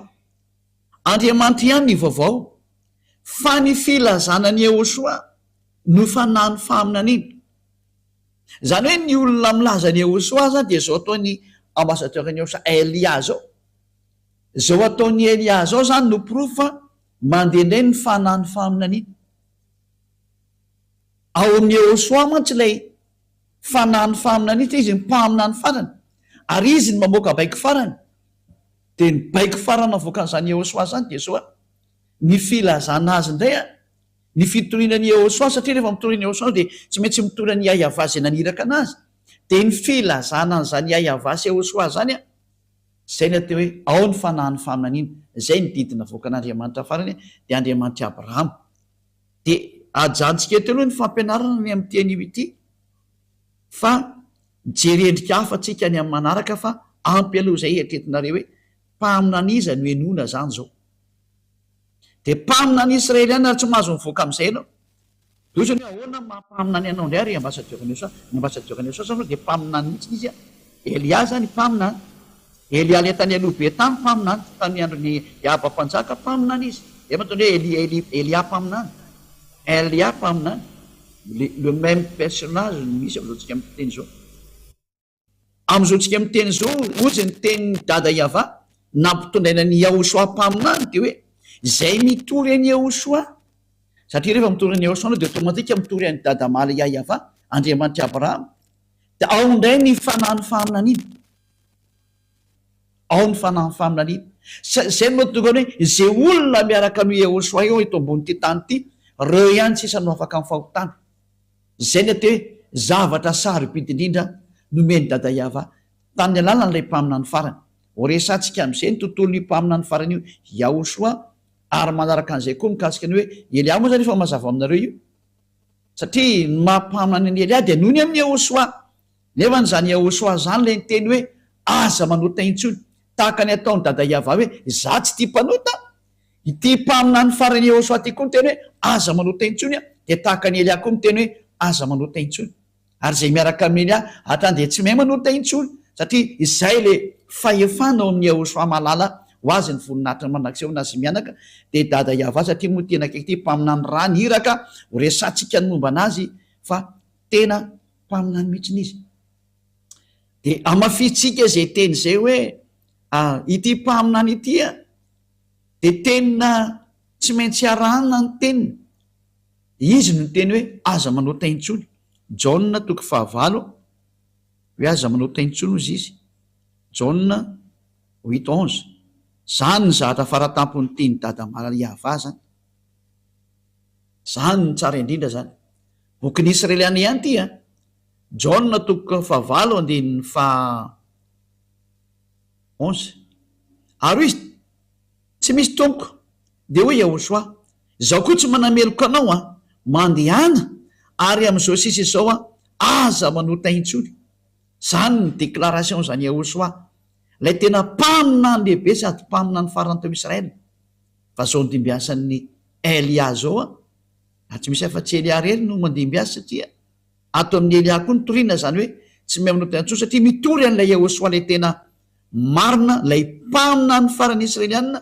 Speaker 1: Andriamanitra ihany ny vaovao fa ny filazana an'i Yehosoa no fanahin'ny faminaniana. Izany hoe ny olona milaza an'i Yehosoa izany dia izao ataon'ny ambassadeur-n'i Yehosoa Elia izao. Izao ataon'i Elia izao izany no porofo fa Mandeha indray ny fanahin'ny faminaniana. Ao amin'i Yehôsoa mantsy ilay fanahin'ny faminaniana, satria izy no mpaminany farany, ary izy no mamoaka baiko farany. Dia ny baiko farany avoakan'izany Yehôsoa izany dia izao, ny filazana azy indray, ny fitoriana an'i Yehôsoa, satria rehefa mitory an'i Yehôsoa dia tsy maintsy mitory an'i Iahiavà izay naniraka anazy. Dia ny filazana an'izany Iahiavà sy Yehôsoa izany. Izay ilay atao hoe ao ny fanahin'ny faminaniana. Izay ny didy navoakan'Andriamanitra farany dia Andriamanitr'i Abrahama. Dia ajanontsika eto aloha ny fampianarana ny amin'ity anio ity fa mijery endrika hafa tsika ny amin'ny manaraka fa ampy aloha izay eritreretinareo hoe mpaminan'iza no henoina izany izao. Dia mpaminan'ny Israeliana ary tsy mahazo mivoaka amin'izay ianao. Dia otrany hoe ahoana ny maha mpaminany anao indray ry ambasadiora Nelson a? Ny ambasadiora Nelson zany aloha dia mpaminany mihitsy izy a! Elia zany mpaminany, Elia ilay tany aloha be tany mpaminany, tamin'ny andron'i Iaba mpanjaka mpaminany izy, zay mahatonga hoe Elia Elia Elia mpaminany, Elia mpaminany, le le même personnage no misy amin'izao tsika miteny izao. Amin'izao tsika miteny izao ohatry ny tenin'i Dada Yava nampitondraina an'i Yahoshua mpaminany dia hoe izay mitory an'i Yahoshua satria rehefa mitory an'i Yahoshua ianao dia automatique mitory an'i Dada Maria Yava Andriamanitr'i Abrahama dia ao indray ny fanahin'ny faminaniana ao ny fanahin'ny faminaniana izay no mahatonga hoe izay olona miaraka amin'i Yahoshua eo eto ambonin'ity tany ity ireo ihany sisa no afaka amin'ny fahotana Izay ny atao hoe zavatra sarobidy indrindra nomen'i Dada Yava tamin'ny alalan'ilay mpaminany farany. Ho resahantsika amin'izay ny tontolon'io mpaminany farany io Yahoshua ary manaraka an'izay koa mikasika ny hoe Eliah moa izany efa mazava aminareo io satria ny maha mpaminany an'i Eliah dia noho ny amin'i Yahoshua nefa ny izany Yahoshua izany ilay niteny hoe aza manota intsony tahaka ny ataon'i Dada Yava hoe za tsy tia mpanota Ity mpaminany faran'i Yehosua ity koa niteny hoe, Aza manohitra intsony, dia tahaka an'i Elia koa miteny hoe, Aza manohitra intsony. Ary izay miaraka amin'i Elia hatrany dia tsy mahay manohitra intsony, satria izay ilay fahefana ao amin'i Yehosua mahalala ho azy ny voninahitry ny mandrakizay ho nazy mianaka, dia i Dada Yavah, satria moa tena akaiky ity mpaminany raha ny iraka ho resahantsika ny momba an'azy fa tena mpaminany mihitsy izy. Dia hamafisintsika izay teny izay hoe, Ary ity mpaminany ity, dia tena tsy maintsy arahana ny teniny. Izy no niteny hoe, Aza manao tay intsony. Jaona toko fahavalo, hoe aza manao tay intsony hozy izy. Jaona huit onze. Izany ny zavatra faratampon'ny tenin'i Dada Maria Vah izany. Izany no tsara indrindra izany. Bokin'ny Israeliana ihany ity an. Jaona toko fahavalo andinin'ny faha. onze. Ary hoy izy, Tsy misy tompoko. Dia hoy Yahoshuà, Izaho koa tsy manameloka anao an! Mandehana, ary amin'izao sisa izao an, aza manota intsony. Izany ny déclaration-n'i Yahoshuà, ilay tena mpaminany lehibe sady mpaminany farany tao Israël. Fa izao andimbiasan'i Elia izao an! Raha tsy misy afa-tsy Elia irery no mandimbiasa satria. Ato amin'ny Elia koa ny toriana izany hoe tsy mihaonao tena intsony satria mitory an'ilay Yehosua ilay tena marina, ilay mpaminany farany Israelianina,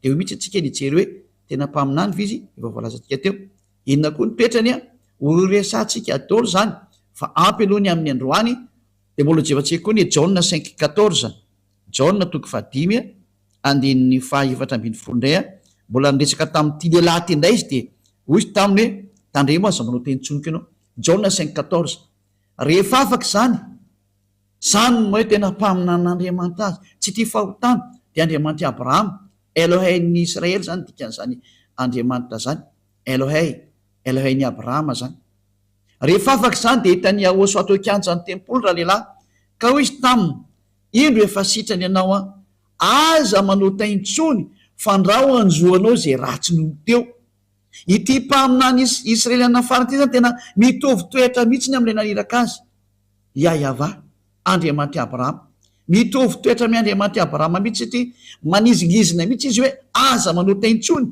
Speaker 1: dia eo mihitsy antsika no hijery hoe tena mpaminany ve izy efa voalazantsika teo? Inona koa ny toetrany an? Horesahantsika daholo izany fa ampy aloha ny amin'ny androany dia mbola hojevantsika koa ny Jaona cinq quatorze. Jaona toko fahadimy andininy fahaefatra ambin'ny folo indray a, mbola niresaka tamin'ity lehilahy ity indray izy dia hoy izy taminy hoe, Tandremo aza manao teny tsinoka ianao. Jaona cinq quatorze. Rehefa afaka izany, izany no hoe tena mpaminanin'Andriamanitra azy, tsy tia fahotana, dia Andriamanitr'i Abrahama, Elohein'ny Israely izany dikan'izany Andriamanitra izany, Elohei, Elohein'i Abrahama izany. Rehefa afaka izany dia hitan'i Yahosoa teo an-kianjan'ny tempoly ralehilahy, ka hoy izy taminy, indro efa sitrany ianao an! Aza manontay intsony fandrao hanjo anao izay ratsy nony teo. Ity mpaminany Israeliana farany ity izany tena mitovy toetra mihitsy ny amin'ilay naniraka azy, Iahyavah, Andriamanitry Abrahama. Mitovy toetra amin'ny Andriamanitry Abrahama mihitsy ity, manizingizina mihitsy izy hoe aza manontay intsony.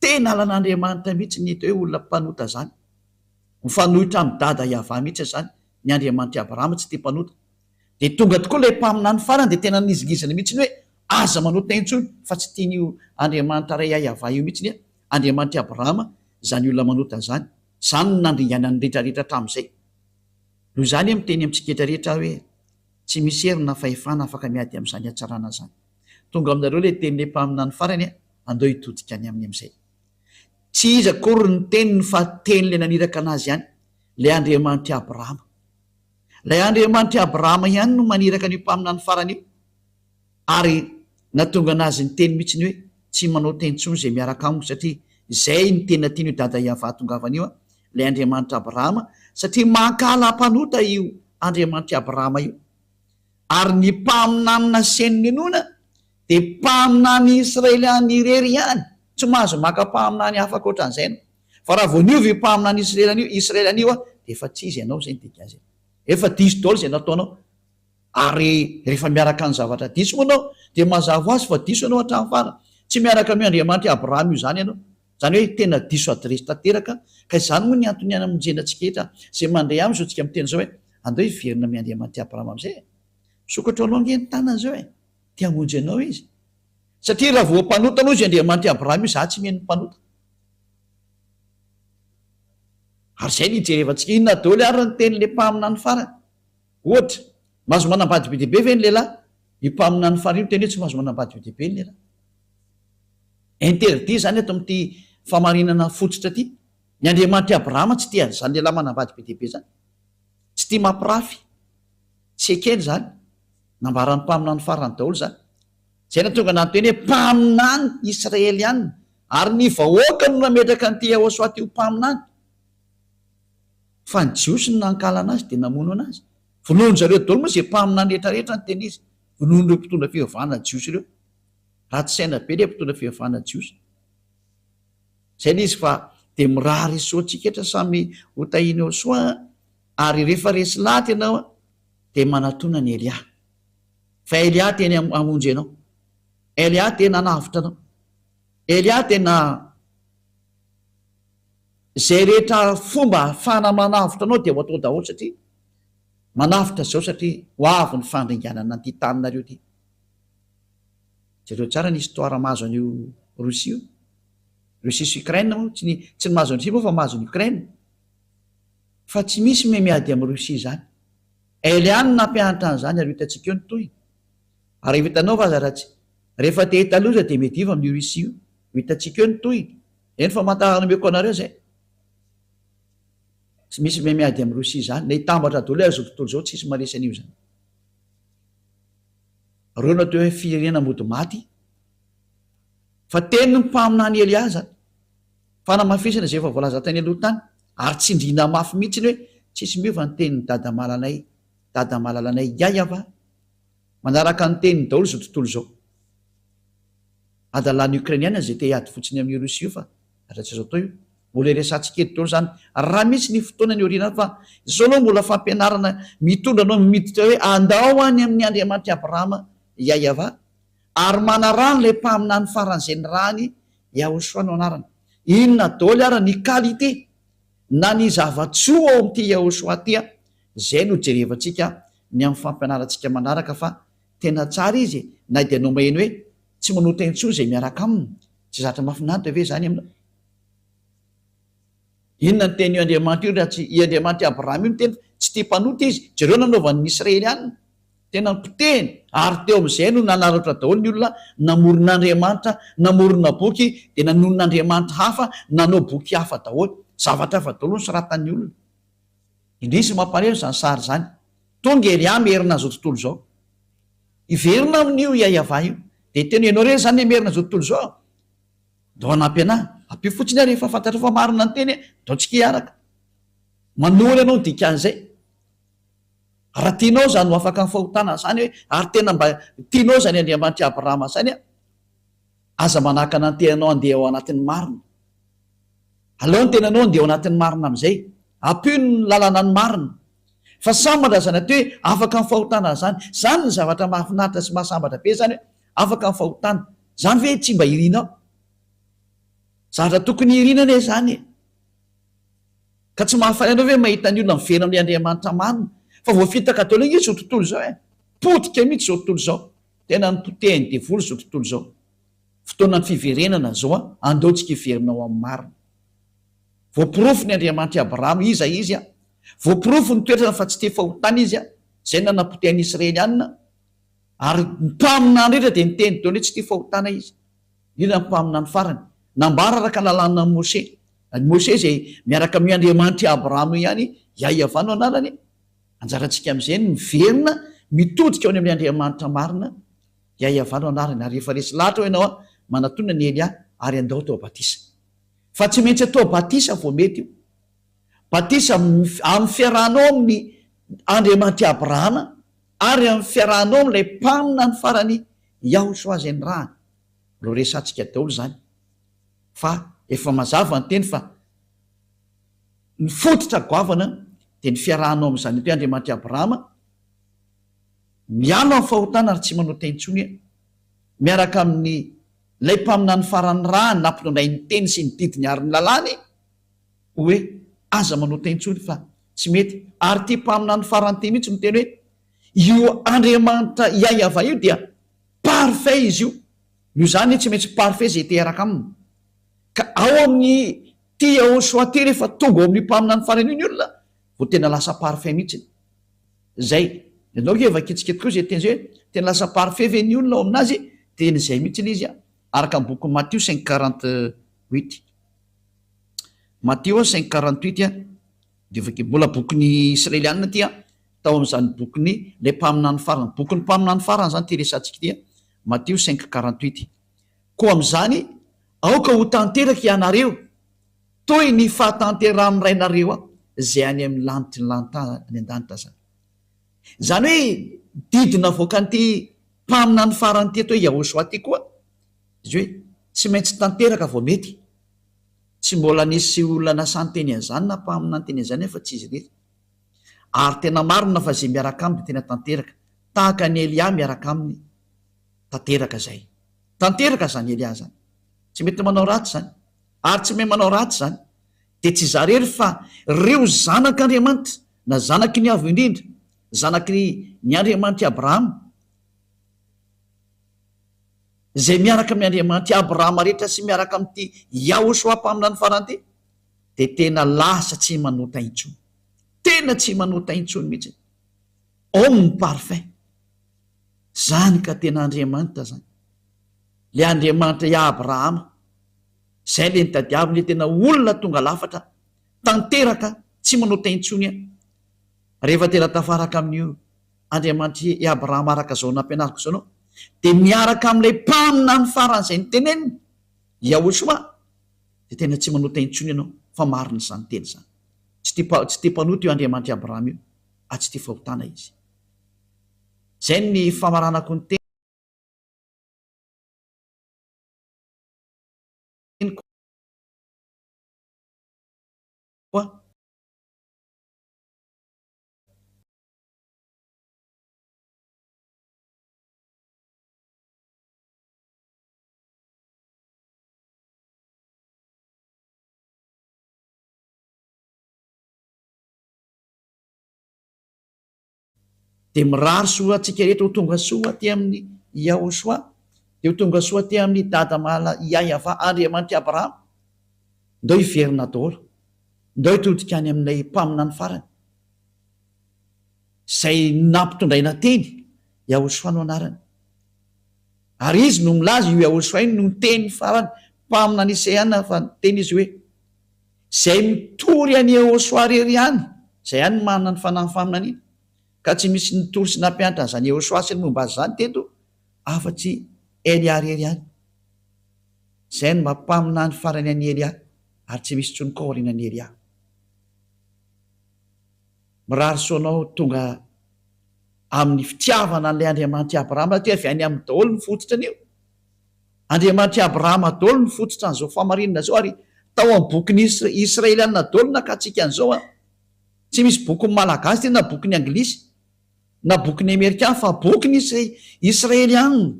Speaker 1: Tena alan'Andriamanitra mihitsy ny hita hoe olona mpanota izany. Mifanohitra amin'i Dada Yavah mihitsy izany ny Andriamanitr'i Abrahama tsy tia mpanota. Dia tonga tokoa ilay mpaminany farany dia tena nizingizina mihitsy hoe aza manota intsony fa tsy tian'io Andriamanitra Ray Yah Yavah io mihitsy Andriamanitr'i Abrahama izany olona manota izany. Izany no nandringana ny rehetra rehetra hatramin'izay. Noho izany aho miteny amintsika rehetra aho hoe tsy misy hery na fahefana afaka miady amin'izany hatsarana izany. Tonga aminareo ilay tenin'ilay mpaminany farany e, andao hitodika any aminy amin'izay. Tsy izy akory ny teniny fa tenin'ilay naniraka anazy ihany, ilay Andriamanitr'i Abrahama. Ilay Andriamanitr'i Abrahama ihany no maniraka an'io mpaminany farany io, ary nahatonga anazy niteny mihitsy ny hoe, Tsy manao teny intsony izay miaraka amiko, satria izay no tena tian'io Dada Iavah atongavana io, ilay Andriamanitr'i Abrahama, satria mankahala mpanota io Andriamanitr'i Abrahama io. Ary ny mpaminany naseho ny inoana dia mpaminany Israeliana irery ihany, tsy mahazo maka mpaminany hafa ankoatra an'izay ianao. Fa raha vao niova io mpaminany Israeliana io, Israeliana io, dia efa tsy izy ianao, izay no dikan'izay. Efa diso daholo izay nataonao. Ary rehefa miaraka amin'ny zavatra diso moa ianao, dia mazava ho azy fa diso ianao hatramin'ny farany. Tsy miaraka amin'io Andriamanitry Abrahama io izany ianao. Izany hoe tena diso adiresy tanteraka ka izany moa ny antony hanamonjena antsika rehetra izay mandre aminy izao tsika miteny izao hoe andao hiverina amin Andriamanity Abrahama amizay e! Misokatra aloha ange ny tanany izao e! Te hamonjy anao izy! Satria raha voa mpanota aloha izy Andriamanity Abrahama io za tsy mino mpanota! Ary izay no hijerevantsika inona daoly ary ny teny le mpaminany farany? Ohatra, mahazo manambady be dia be ve ny lehilahy? Io mpaminany farany io miteny hoe tsy mahazo manambady be dia be ny lehilahy. Interdit izany eto amin'ity fahamarinana fototra ity. Ny Andriamanitr'i Abrahama tsy tia an'izany lehilahy manambady be dia be izany. Tsy tia mampirafy. Tsy ekeny izany. Nambaran'ny mpaminany farany daholo izany. Izay nahatonga an'Andry teny hoe mpaminany Israeliana. Ary ny vahoaka no nametraka an'ity Yehosua ity ho mpaminany. Fa ny Jiosy no nankala an'azy dia namono an'azy. Vonoin-dry zareo daholo moa izay mpaminany rehetrarehetra ny teny izy. Vonoin'ireo mpitondra fivavahana Jiosy ireo. Ratsy saina be le mpitondra fivavahana jiosy. Zay le izy fa de mirary soa antsika etra samy ho tahiny ao soa an! Ary refa resy laty ianao an de manatona an'i Elia. Fa Elia te hamonjy anao. Elia te nanavotra anao. Elia te na zay rehetra fomba ahafahana manavotra anao de ho atao daholo satria manavotra zao satria ho avy ny fandringanana an'ity tany nareo ty. Jereo tsara ny histoire mahazo an'io Russie io. Russie sy Ukraine moa tsy ny tsy ny mahazo an'i Russie moa fa mahazo an'i Ukraine. Fa tsy misy miha miady amin'i Russie izany. Elle ihany no nampianatra an'izany ary ho hitantsika eo ny tohiny. Ary efa hitanao va aza raha tsy rehefa te hita loza dia miadiva amin'io Russie io. Ho hitantsika eo ny tohiny. Eny famantarana omeko anareo izay. Tsy misy miha miady amin'i Russie izany. Na hitambatra daholo aza izao tontolo izao tsy hisy maharesy an'io izany. Reo no atao hoe firenena mody maty fa teny ny mpaminany Elia zany fanamafisana izay efa voalaza tany aloha tany ary tsindriana mafy mihitsy ny hoe tsisy miova ny tenin'i dadamalalanay dadamalalanay yaya fa manaraka ny teniny daholo izao tontolo izao adalan'ny Ukrainiana izay te hiady fotsiny amin'io Russie io fa Raha tsy izao toy mbola hiresahantsika eto daholo izany raha misy ny fotoana any aoriana any fa izao aloha mbola fampianarana mitondra anao miditra hoe andao any amin'ny Andriamanitr'i Abrahama Yahyawa ary manaraha an'ilay mpaminany faran'izay nirahany Yahoshua no anarany. Inona daholo ary ny qualité na ny zava-tsoa ao amin'ity Yahoshua ity an! izay no jerevantsika ny amin'ny fampianarantsika manaraka fa tena tsara izy e! na dia nomeny hoe Tsy manota intsony izay miaraka aminy. Tsy zatra mahafinaritra ve izany aminao? Inona no tenin'io Andriamanitra io raha tsy i Andriamanitr'i Abrahama io niteny fa tsy tia mpanota Izy? Jereo ny nanaovan'ny Israelianina. Tena nipotehiny ary teo amin'izay no nanararaotra daholo ny olona namorona andriamanitra, namorona boky dia nanonona andriamanitra hafa, nanao boky hafa daholo. Zavatra hafa daholo no soratan'ny olona. Indrisy ry mampaneno izany sary izany. Tonga ery aho Merina izao tontolo izao. Hiverina amin'io Yayavah io. Dia hiteny hoe, ianao re izany le Merina izao tontolo izao a! Ndao hanampy anà. Ampio fotsiny aho rehefa fantatrao fa marina ny teny e! Ndao antsika hiaraka. Manohana anao ny dikan'izay. Raha tianao izany ho afaka amin'ny fahotana izany hoe, ary tena mba tianao izany Andriamanitr'i Abrahama izany a! Aza manakana ny tenanao handeha ao anatin'ny marina. Aleo ny tenanao handeha ao anatin'ny marina amin'izay ampio ny lalana ny marina. Fa sambatra izany atao hoe afaka amin'ny fahotana izany. Izany ny zavatra mahafinaritra sy mahasambatra be izany hoe afaka amin'ny fahotana. Izany ve tsy mba irinao? Zavatra tokony irina anie izany e! Ka tsy mahafaly anao ve mahita ny olona miverina amin'ilay Andriamanitra marina? Fa voafitaka daholo ange izao tontolo izao e! Potika mihitsy izao tontolo izao. Tena ny potehin'ny devoly izao tontolo izao. Fotoanan'ny fiverenana izao an, andao tsika hiverina ho amin'ny marina. Voaporofo ny Andriamanitra i Abrahama iza izy an, voaporofo ny toetrany fa tsy te fahotana izy an, izay nanapoteha ny Israelianina, ary ny mpaminany rehetra dia niteny daholo hoe tsy te fahotana izy, indrindra ny mpaminany farany. Nambara araka ny lalànan'i Mosè. I Mosè izay miaraka amin'io Andriamanitra i Abrahama io ihany, Iahiavà no anarany. Anjarantsika amin'izay ny miverina mitodika ao ny amin'ny Andriamanitra marina, dia ihavanao anarany, ary rehefa resy lahatra ao ianao an, manatona ny Elia ary andao atao batisa. Fa tsy maintsy atao batisa vao mety io. Batisa amin'ny fiarahanao amin'ny Andriamanitry Abrahama ary amin'ny fiarahanao amin'ilay mpaminany farany Yahoshua izay nirahany. Mbola ho resahantsika daholo izany fa efa mazava ny teny fa. Ny fototra goavana dia ny fiarahanao amin'ny Zanipy Andriamanitra i Abrahama, mialo amin'ny fahotana ary tsy manota intsony, miaraka amin' Ilay Mpaminany Farany Ra nampinonainy ny teny sy ny didiny ary ny lalàny, hoe, Aza manota intsony fa tsy mety. Ary ity Mpaminany Farany ity mihitsy no miteny hoe, Io Andriamanitra Iahyavah io dia parfait izy io. Noho izany, tsy maintsy parfait izay te-hiaraka aminy. Ka ao amin'ny Ty Yahoshua ty rehefa tonga ao amin'ny mpaminany farany io ny olona vao tena lasa parfait mihitsiny. Zay. Ianao nge efa kitsikitika koa zay teny zay hoe tena lasa parfait ve ny olona ao amin'azy teny zay mihitsy le izy an! Araka ny bokin'i Matio cinq quarante huit. Matio cinq quarante huit an! Dia efa mbola bokin'ny Israelianina ty an! Tao amin'izany bokin'ny ilay mpaminany farany. Bokin'ny mpaminany farany izany ty resahantsika ity an! Matio cinq quarante huit. Koa amin'izany, aoka ho tanteraka hianareo toy ny fahatanterahan'ny Rainareo izay any amin'ny lanitry ny lanitany any an-danitra izany. Izany hoe didy navoakan'ity mpaminany farany ity atao hoe Yahoshua ity koa izy hoe tsy maintsy tanteraka vao mety. Tsy mbola nisy olona nasan-teny an'izany na mpaminany teny an'izany afa tsy izy irery. Ary tena marina fa izay miaraka aminy dia tena tanteraka, tahaka an'i Elia miaraka aminy. tanteraka izay. Tanteraka izany Elia izany. Tsy mety manao ratsy izany. Ary tsy mahay manao ratsy izany. Dia tsy izaho irery fa ireo zanak'Andriamanitra, na zanaky ny Avo Indrindra, zanaky ny Andriamanitr'i Abrahama, izay miaraka amin'ny Andriamanitr'i Abrahama rehetra sy miaraka amin'ity Yahoshuah Mpaminany Farany ity, dia tena lasa tsy manota intsony. Tena tsy manota intsony mihitsy. Homme parfait. Zany ka tena Andriamanitra zany. Le Andriamanitra i Abrahama. Zay le nitadiaviny le tena olona tonga lafatra tanteraka tsy manota intsony an. Rehefa tena tafaraka amin'io Andriamanitry i Abrahama araka zao nampianariko zao anao de miaraka amin'ilay mpaminany farany zay niteneniny Yahoshua de tena tsy manota intsony ianao fa marina zany teny zany. Tsy tia tsy tia mpanota io Andriamanitry Abrahama io. fa tsy tia fahotana izy. Izay ny famaranako ny teniko. Dia mirary soa antsika rehetra ho tonga soa aty amin'i Yahoshua, dia ho tonga soa aty amin'i Dada malala Iahiavah Andriamanitr'i Abrahama. Ndao hiverina daholo, ndao hitodika any amin'ilay Mpaminany farany, izay nampitondraina teny, Yahoshua no anarany. Ary Izy no milaza, io Yahoshua io no niteny farany, Mpaminany Isaiah fa niteny Izy hoe, Izay mitory an'i Ehosoa irery ihany, izay ihany no manana ny fanahin'ny faminaniana. Ka tsy misy nitory sy nampianatra an'izany Ehosoa sy ny momba azy izany teto afa-tsy Elia irery ihany. Izay no maha mpaminany farany an'i Elia, ary tsy misy intsony koa aorianan'i Elia. Mirary soa anao tonga amin'ny fitiavana an'ilay Andriamanitra i Abrahama satria avy any aminy daholo ny fototrin'io Andriamanitr'i Abrahama dolo no fototra an'izao fahamarinana izao ary tao amin'ny bokin'ny Israeliana dolo nakatsika an'izao an! Tsy misy bokin'ny Malagasy tena bokin'ny Anglisy na bokin'ny Amerikana fa bokin'ny Israeliana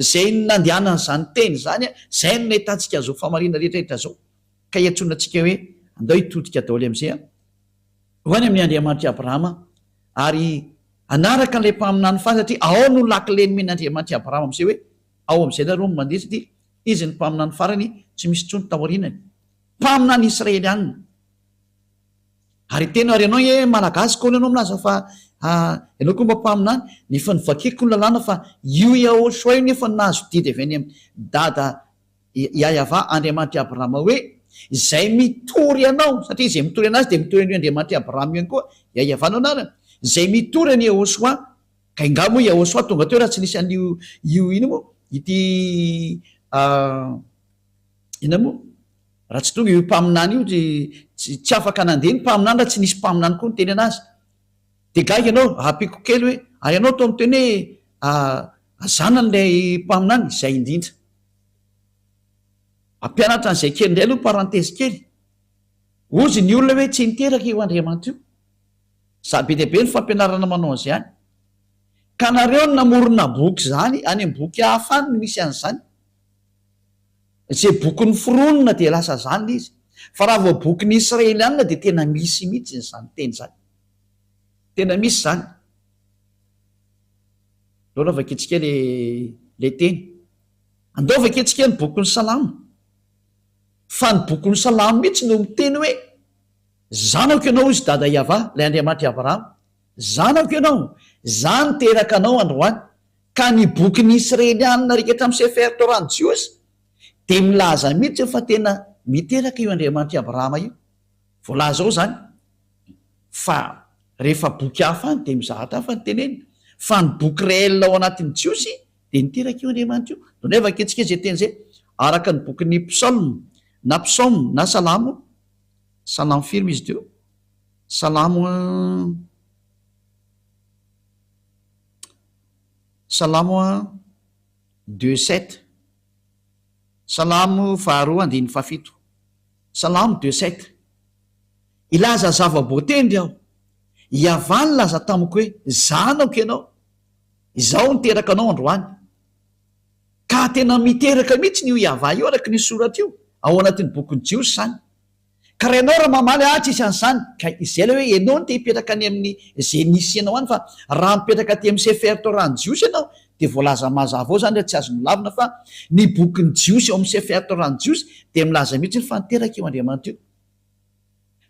Speaker 1: izay nandehanany izany teny izany an! Izay no nahitantsika an'izao fahamarinana rehetrarehetra izao ka iantsoana antsika hoe andao hitodika daholo amin'izay an! Ho any amin'i Andriamanitr'i Abrahama Ary hanaraka an'ilay mpaminany faly satria ao no lakile nomen'Andriamanitra i Abrahama amin'izay hoe, ao amin'izay nareo no mandeha satria Izy no mpaminany farany tsy misy intsony taorianany. Mpaminany Israelianina. Ary tena ary ianao nge Malagasy koa ianao milaza fa ianao koa mba mpaminany, ny efa novakiko ny lalàna fa io Yahoshua io nefa nahazo didy avy any amin'ny Dada Iahiavà Andriamanitr'i Abrahama hoe, Izay mitory anao, satria izay mitory anazy dia mitory an'io Andriamanitr'i Abrahama io ihany koa, Iahiavà no anarany, izay mitory an'i Iehôsoà, ka ingahy moa Iehôsoà tonga teo raha tsy nisy an'io io inona moa ity inona moa raha tsy tonga io mpaminany io dia tsy afaka nandeha ny mpaminany raha tsy nisy mpaminany koa niteny anazy. Dia gaga ianao, hahapiko kely hoe, ary ianao toa miteny hoe, Aza anan'ilay mpaminany, izay indrindra. Hampianatra an'izay kely indray aloha parenthèse kely. Hozy ny olona hoe tsy niteraka io Andriamanta io. Za be dia be ny fampianarana manao an'izany. Ka nareo no namorona boky zany, any am boky hafa any no misy an'izany. Ze boky noforonina dia lasa zany le izy. Fa raha vao boky ny Israelianina dia tena misy mihitsy izany teny izany. Tena misy izany. Lôlôva kitsy kely le teny. Andao vakiantsika ny bokin'ny Salamo, fa ny bokin'ny Salamo mihitsy no miteny hoe, Zanako ianao, hoy Dada Iavah, ilay Andriamanitr'i Abrahama, zanako ianao, izaho niteraka anao androany. Ka ny bokin'ny Isrelianina rehetra amin'ny Sefer Torah-n'ny Jiosy dia milaza mihitsy fa tena miteraka io Andriamanitr'i Abrahama io. Voalaza ao izany fa rehefa boky hafa any dia mizahatra hafa ny tenenina, fa ny boky reelle ao anatin'ny Jiosy Dia niteraka io Andriamanitra io. Donay vakiantsika izay teny izay, araka ny bokin'ny Psalm, na Psaume, na Salamo, Salamo firy moa izy teo? Salamo, Salamo deux sept, Salamo faharoa andininy fahafito, Salamo deux sept, hilaza zava-boatendry aho, Hiavah nilaza tamiko hoe, Zanako ianao. Izaho niteraka anao androany. Ka tena miteraka mihitsiny io Yavah io araka ny soratra io ao anatin'ny bokin'ny Jiosy izany. Ka raha ianao raha mamaly ahy tsy hisy an'izany, ka izay ilay hoe ianao no te hipetraka any amin'ny izay misy anao any fa raha mipetraka aty amin'ny Sefer Torah ny Jiosy ianao dia voalaza mazava ao izany raha tsy azo nolavina fa ny bokin'ny Jiosy ao amin'ny Sefer Torah ny Jiosy dia milaza mihitsiny fa niteraka io Andriamanitra io.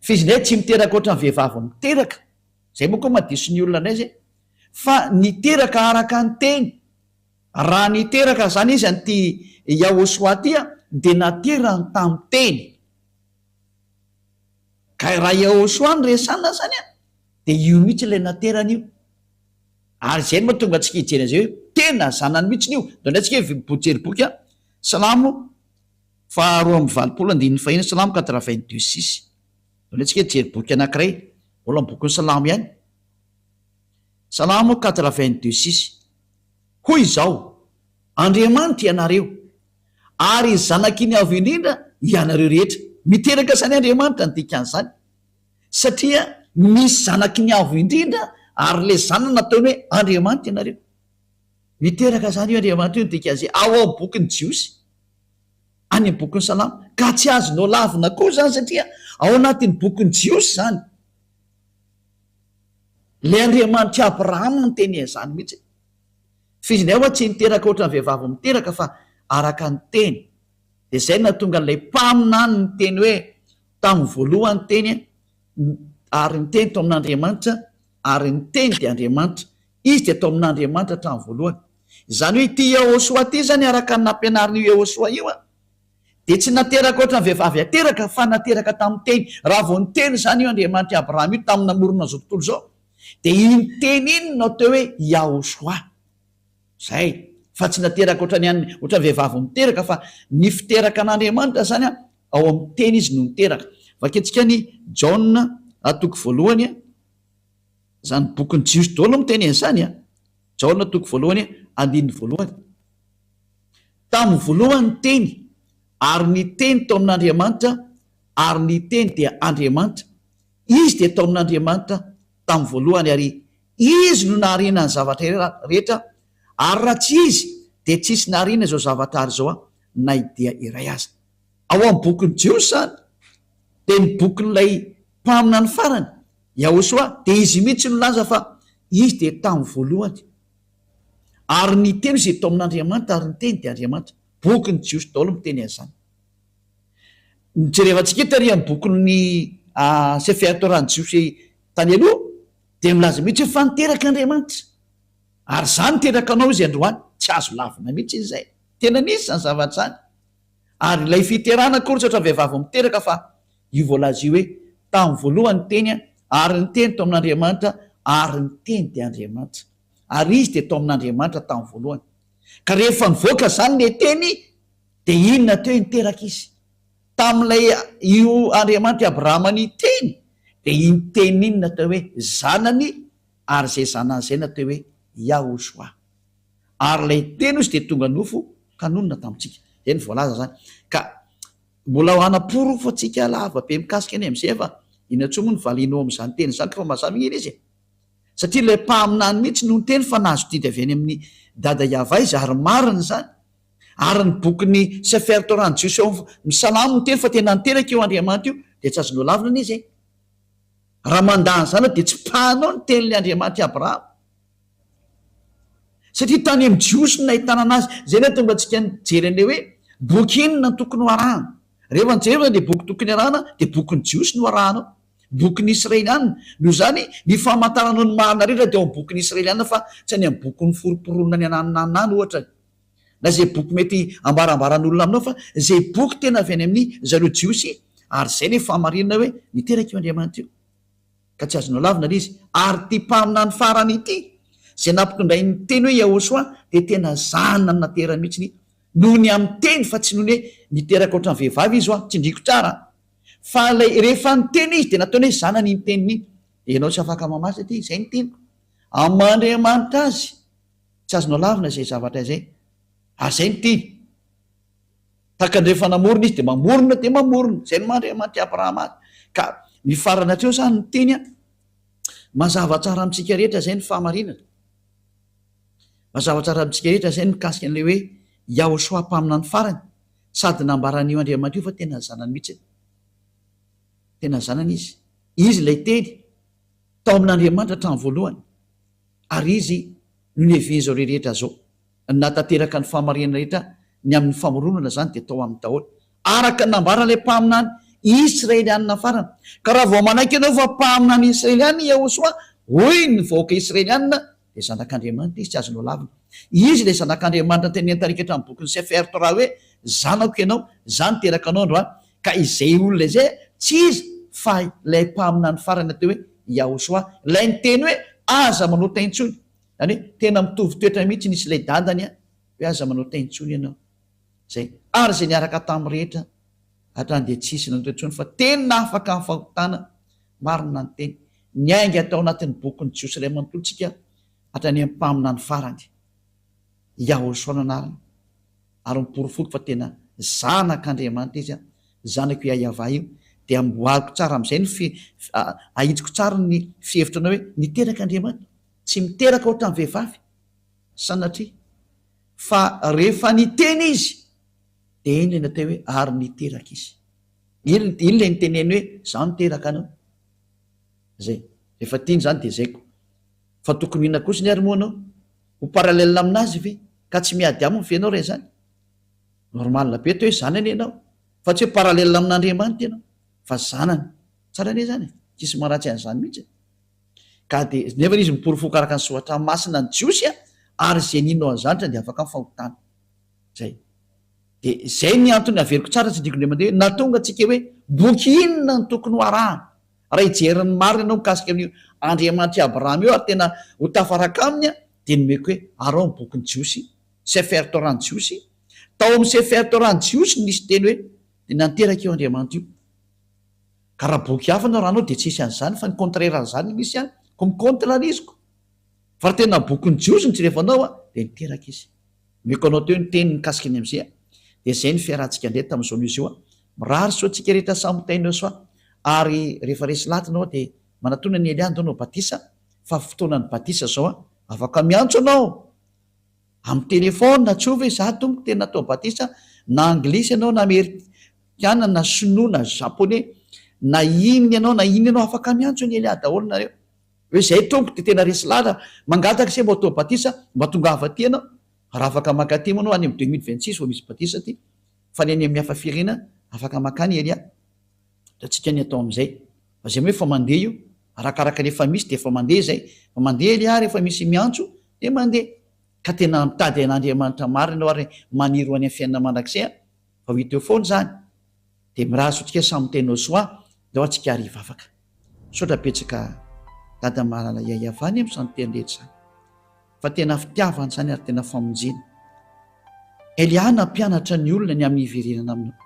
Speaker 1: F'izy indray tsy miteraka ohatran'ny vehivavy miteraka. Zay moa koa madiso ny olona ndray zay fa niteraka araka ny teny raha niteraka zany izy an ty Yahoshua ty an dia naterany tamin'ny teny ka raha Yahoshua no resana zany an dia io mihitsy ilay naterany io ary zay no mahatonga antsika hijery an'izay hoe tena zanany mihitsy io dia ndray tsika hiv hijery boky an Salamo faharoa amby valopolo andininy faheno Salamo quatre vingt deux six. Anehoantsika hijery boky anankiray, mbola ny bokin'ny Salamo ihany. Salamo quatre vingt deux six, Hoy izao, Andriamanitra ianareo, ary zanaky ny Avo Indrindra ianareo rehetra. Miteraka izany Andriamanitra ny dikan'izany, satria misy zanaky ny Avo Indrindra, ary ilay zanany nataony hoe Andriamanitra ianareo. Miteraka izany io Andriamanitra io ny dikan'izay ao amin'ny bokin'ny Jiosy. any amin'ny bokin'ny Salamo, ka tsy azo nolavina koa izany satria ao anatin'ny bokin'ny Jiosy izany. Ilay Andriamanitr'i Abrahama no niteny an'izany mihitsy. F'izy indray ho'a tsy niteraka ohatran'ny vehivavy miteraka fa araka ny teny. Dia izay no nahatonga an'ilay mpaminany niteny hoe, Tamin'ny voalohany ny Teny, ary ny Teny tao amin'Andriamanitra, ary ny Teny dia Andriamanitra. Izy dia tao amin'Andriamanitra hatramin'ny voalohany. Izany hoe ity Yehôsoa ity izany araka ny nampianarin'io Yehôsoa io dia tsy nateraka ohatran'ny vehivavy ateraka fa nateraka tamin'ny teny. Raha vao niteny izany io Andriamanitr'i Abrahama io tamin'ny namorona izao tontolo izao dia iny teny iny no atao hoe Yahôsoa. Izay. Fa tsy nateraka ohatran'ny an'ny, ohatran'ny vehivavy miteraka fa ny fiteraka an'Andriamanitra izany ao amin'ny teny izy no niteraka. Vakintsika ny Jaona toko voalohany. Izany bokin'ny Jiosy daholo no miteny an'izany an! Jaona toko voalohany andininy voalohany. Tamin'ny voalohany ny Teny, ary ny Teny tao amin'Andriamanitra, ary ny Teny dia Andriamanitra. Izy dia tao amin'Andriamanitra tamin'ny voalohany, ary Izy no nahariana ny zavatra rehetra, ary raha tsy Izy dia tsy hisy nahariana izao zavatra ary izao na dia iray aza. Ao amin'ny bokin'ny Jiosy izany dia ny bokin'ilay mpaminany farany, Yahosoa, dia izy mihitsy no nilaza fa Izy dia tamin'ny voalohany. Ary ny Teny izay tao amin'Andriamanitra, ary ny Teny dia Andriamanitra. Bokin'ny Jiosy daholo miteny an'izany. Jerevantsika eto ary amin'ny bokin'ny Sefer Torah-n'ny Jiosy tany aloha dia milaza mihitsy hoe fa niteraka Andriamanitra, ary izany niteraka anao Izy androany. Tsy azo lavina mihitsy izay. Tena nisy izany zavatra izany. ary ilay fiterana akory tsy ohatran'ny vehivavy vao miteraka fa io voalaza io hoe tamin'ny voalohany ny teny ary ny teny tao amin'Andriamanitra ary ny teny dia Andriamanitra ary izy dia tao amin'Andriamanitra tamin'ny voalohany ka rehefa nivoaka izany ilay teny dia inona teo niteraka izy tamin'ilay io Andriamanitra Abrahama ny teny dia iny teny iny natao hoe zanany ary izay zanany izay natao hoe Yahushua ary ilay Teny hoy izy dia tonga nofo ka nonina tamintsika. Izay no voalaza izany. Ka mbola ho hanamporofo antsika lava be mikasika an'i MJF fa inona intsony moa ny valianao amin'izany Teny izany koa fa mazava anie ilay izy e! Satria ilay Mpaminany mihitsy no niteny fa nahazo didy avy any amin'i Dada Yavah izy ary marina izany. Ary ny bokin'i Sefer Torah ny Jiosy ao amin'ny Salamo miteny fa tena niteraka io Andriamanitra io dia tsy azo nolavina izy e! Raha mandà an'izany ianao dia tsipahanao ny Tenin'ny Andriamanitra i Abrahama. Satria tany amin'ny Jiosy no nahitana anazy. Izay no hahatonga antsika nijery an'ilay hoe boky inona no tokony hoarahana. Raha efa nijery izany dia boky tokony harahana dia bokin'ny Jiosy no arahanao, bokin'ny Israeliana. Noho izany, ny famantaranao ny marina rehetra dia ao amin'ny bokin'ny Israeliana fa tsy any amin'ny bokin'ny Forom-pironana any ananana any, ohatra, na izay boky mety ambarambaran'olona aminao fa izay boky tena avy any amin'i zareo Jiosy ary izay ilay fahamarinana hoe niteraka io Andriamanitra io. ka tsy azonao lavina ilay izy, ary ity mpaminany farany ity izay nampitondray ny teny hoe Yahoshuah dia tena zanany naterany mihitsy noho ny amin'ny teny fa tsy noho ny hoe niteraka ohatran'ny vehivavy izy ho'a, tsindriko tsara an! fa ilay rehefa niteny izy dia nataony hoe zanany iny teniny iny, ianao tsy afaka mamatsy aty, izay ny teniko amin'ny maha Andriamanitra azy, tsy azonao lavina izay zavatra izay, ary izay no tiany. Takandrefa namorona izy dia mamorona dia mamorona, izay no maha Andriamanitry Abrahama azy. Ka ny farany hatreo izany ny teny an, mazava tsara amintsika rehetra izay ny fahamarinana. Mazava tsara amintsika rehetra izay ny mikasika an'ilay hoe Yahoshua mpaminany farany, sady nambara an'io Andriamanitra io fa tena ny zanany mihitsy. Tena ny zanany izy. Izy ilay teny tao amin'Andriamanitra hatramin'ny voalohany, ary izy no nihevehin'izao rehetra izao. Na tanteraka ny fahamarinana rehetra ny amin'ny famoronana izany dia tao aminy daholo, araka ny nambaran'ilay mpaminany Israelianina farany. Ka raha vao manaiky ianao fa mpaminany Israelianina i Yehosua, hoy ny vahoaka Israelianina, dia zanak'Andriamanitra izy, tsy azonao lavina. Izy ilay zanak'Andriamanitra notenenin'ny tarika eto amin'ny bokin'ny Sefer Torah hoe, Zanako ianao, izaho niteraka anao androany. Ka izay olona izay, tsy izy, fa ilay mpaminany farany natao hoe Yahoshuah, ilay niteny hoe, Aza manota intsony. Zany hoe tena mitovy toetra mihitsy ny sy ilay dadany a! hoe aza manao tay intsony ianao! zay ary zay niaraka tam rehetra hatrany dia tsy hisy nanoto intsony fa tena afaka am fahotana marina ny teny niainga tao anatin'ny bokin'ny jiosy iray manontolo tsika hatrany am mpaminany farany Yahoshua no anarany ary miporofoko fa tena zanak Andriamanitra izy a! zanako Yahyavah io dia amboariko tsara am zay ny fi ahitsiko tsara ny fihevitra anao hoe niterak Andriamanitra tsy miteraka ohatran'ny vehivavy, sanatria, fa rehefa niteny izy dia iny ilay natao hoe ary niteraka izy. Iny iny ilay niteneny hoe izaho niteraka anao. Izay. Rehefa tiany izany dia izay ko. Fa tokony ho inona kosa anie ary moa ianao? Ho parallèle amin'azy ve? Ka tsy miady aminy ve ianao raha izany? Normal be atao hoe zanany ianao, fa tsy hoe parallèle amin'Andriamanitra ianao, fa zanany. Tsara anie izany e, tsisy maharatsy an'izany mihitsy e. Ka dia, nefa izy miporofoko araka ny soratra masina ny Jiosy a, ary izay nino an'i Zanitra dia afaka amin'ny fahotana. Izay. Dia izay ny antony averiko tsara tsy diko indray mandeha hoe, nahatonga antsika hoe boky inona no tokony ho arahana. Raha hijery ny marina ianao mikasika amin'io Andriamanitr'i Abrahama io ary tena ho tafaraka aminy a, dia nomeko hoe, arao ny bokin'ny Jiosy, Sefer Torah ny Jiosy, tao amin'ny Sefer Torah ny Jiosy no nisy teny hoe, dia nanteraka io Andriamanitra io. Ka raha boky hafa no arahanao dia tsy hisy an'izany fa ny contraire an'izany no misy an! Ko mi contre an'iziko! Fa raha tena bokin'ny jiosy no jerevanao an! dia niteraka izy. Omeko anao teo ny teniny mikasika ny MG an! Dia izay no fiarahantsika indray tamin'ny zone Uzio an! Mirary soa antsika rehetra samy ho tain'Eo soa ary rehefa resy laty ianao dia manatona an'i Elia handao anao batisa fa fotoanan'ny batisa izao an! Afaka miantso ianao! Amin'ny téléphone tsoa ve za tompoko tena atao batisa na anglisy ianao na amerikana na sinoa na japoney na inn ianao na inn ianao afaka miantso an'i Elia daholo nareo hoe zay tompoko de tena resy lala mangataka se mba atao batisa mba tongava aty ianao raha afaka maka aty moa anao any amin'ny deux mille vingt six vao misy batisa aty fa ny any amin'ny hafa firenena afaka makany Elia. Hitantsika ny atao amin'izay. Fa izay hoe fa mandeha io, arakaraka ny efa misy dia efa mandeha izay. Fa mandeha anie ary efa misy miantso dia mandeha. Ka tena mitady an'Andriamanitra marina ianao ary maniry ho any amin'ny fiainana mandrakizay fa ho hita eo foana izany. Dia mirary sotrikay samy miteny ho soa dia ao antsika ary hivavaka. Misaotra betsaka Dada Malala Yayavany amin'ny santeny rehetra izany. fa tena fitiavana izany ary tena famonjena. Elia nampianatra ny olona ny amin'ny hiverenana aminao.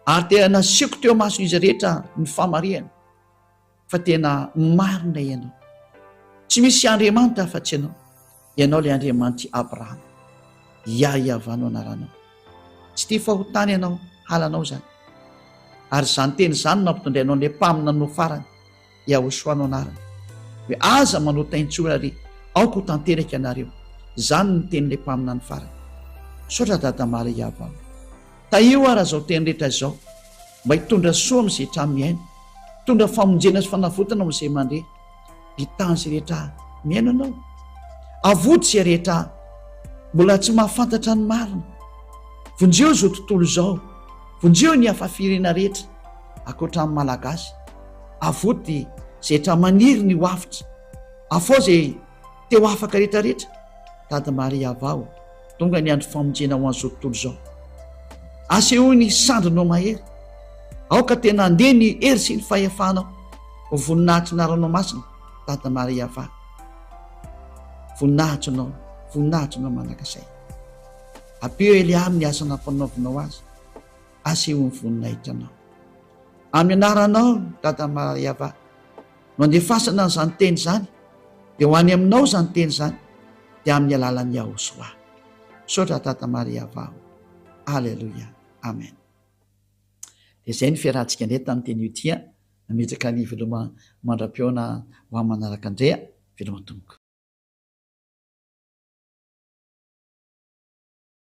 Speaker 1: Ary tena nasiako teo amason'izy rehetra ny famarihana fa tena marina ianao. Tsy misy Andriamanitra afa-tsy ianao. Ianao ilay Andriamanitry Abrahama. Yah Yavah no anaranao. Tsy tia fahotana ianao, halanao izany. Ary izany teny izany no nampitondrainao an'ilay mpaminany ho farany. Yahoshua no anarany, hoe aza manao taintsory ary aoka ho tanteraka ianareo, izany no tenin'ilay mpaminany farany. Misaotra Dada Maria Abao. Tahio ary azao teny rehetra izao mba hitondra soa amin'izay trano mihaino, hitondra famonjena sy fanavotana ho an'izay mandre. Bitan' izay rehetra mihaino anao. Avoty izay rehetra mbola tsy mahafantatra ny marina. Vonjeo izao tontolo izao. Vonjeo ny hafa firena rehetra. Ankoatra ny Malagasy, avoty zetra maniry ny ho avotra, afao ze te ho afaka retra retra, tady Maria avaho, donga ny andro famonjena ho an'izao tontolo izao. Asehoy ny sandrinao mahery, aoka tena handeha ny hery sy ny fahefanao ho voninahitry ny ranao masina, tady Maria avaho, voninahitry nao, voninahitry nao manakasay. Ampio Elia amin'ny asa nampanaovinao azy. asehon'ny voninahitra anao. Amin'ny anaranao Dada Mariava no andefasana an'izany teny izany dia ho any aminao izany teny izany dia amin'ny alalan'i Yahosoa. Misaotra Dada Mariava. Aleloia. Amen. Dia izay ny fiarahantsika indray tamin'ny teny Utia. Nametraka ny veloma mandra-pihaona ho amin'ny manaraka Andrea. Veloma tompoko.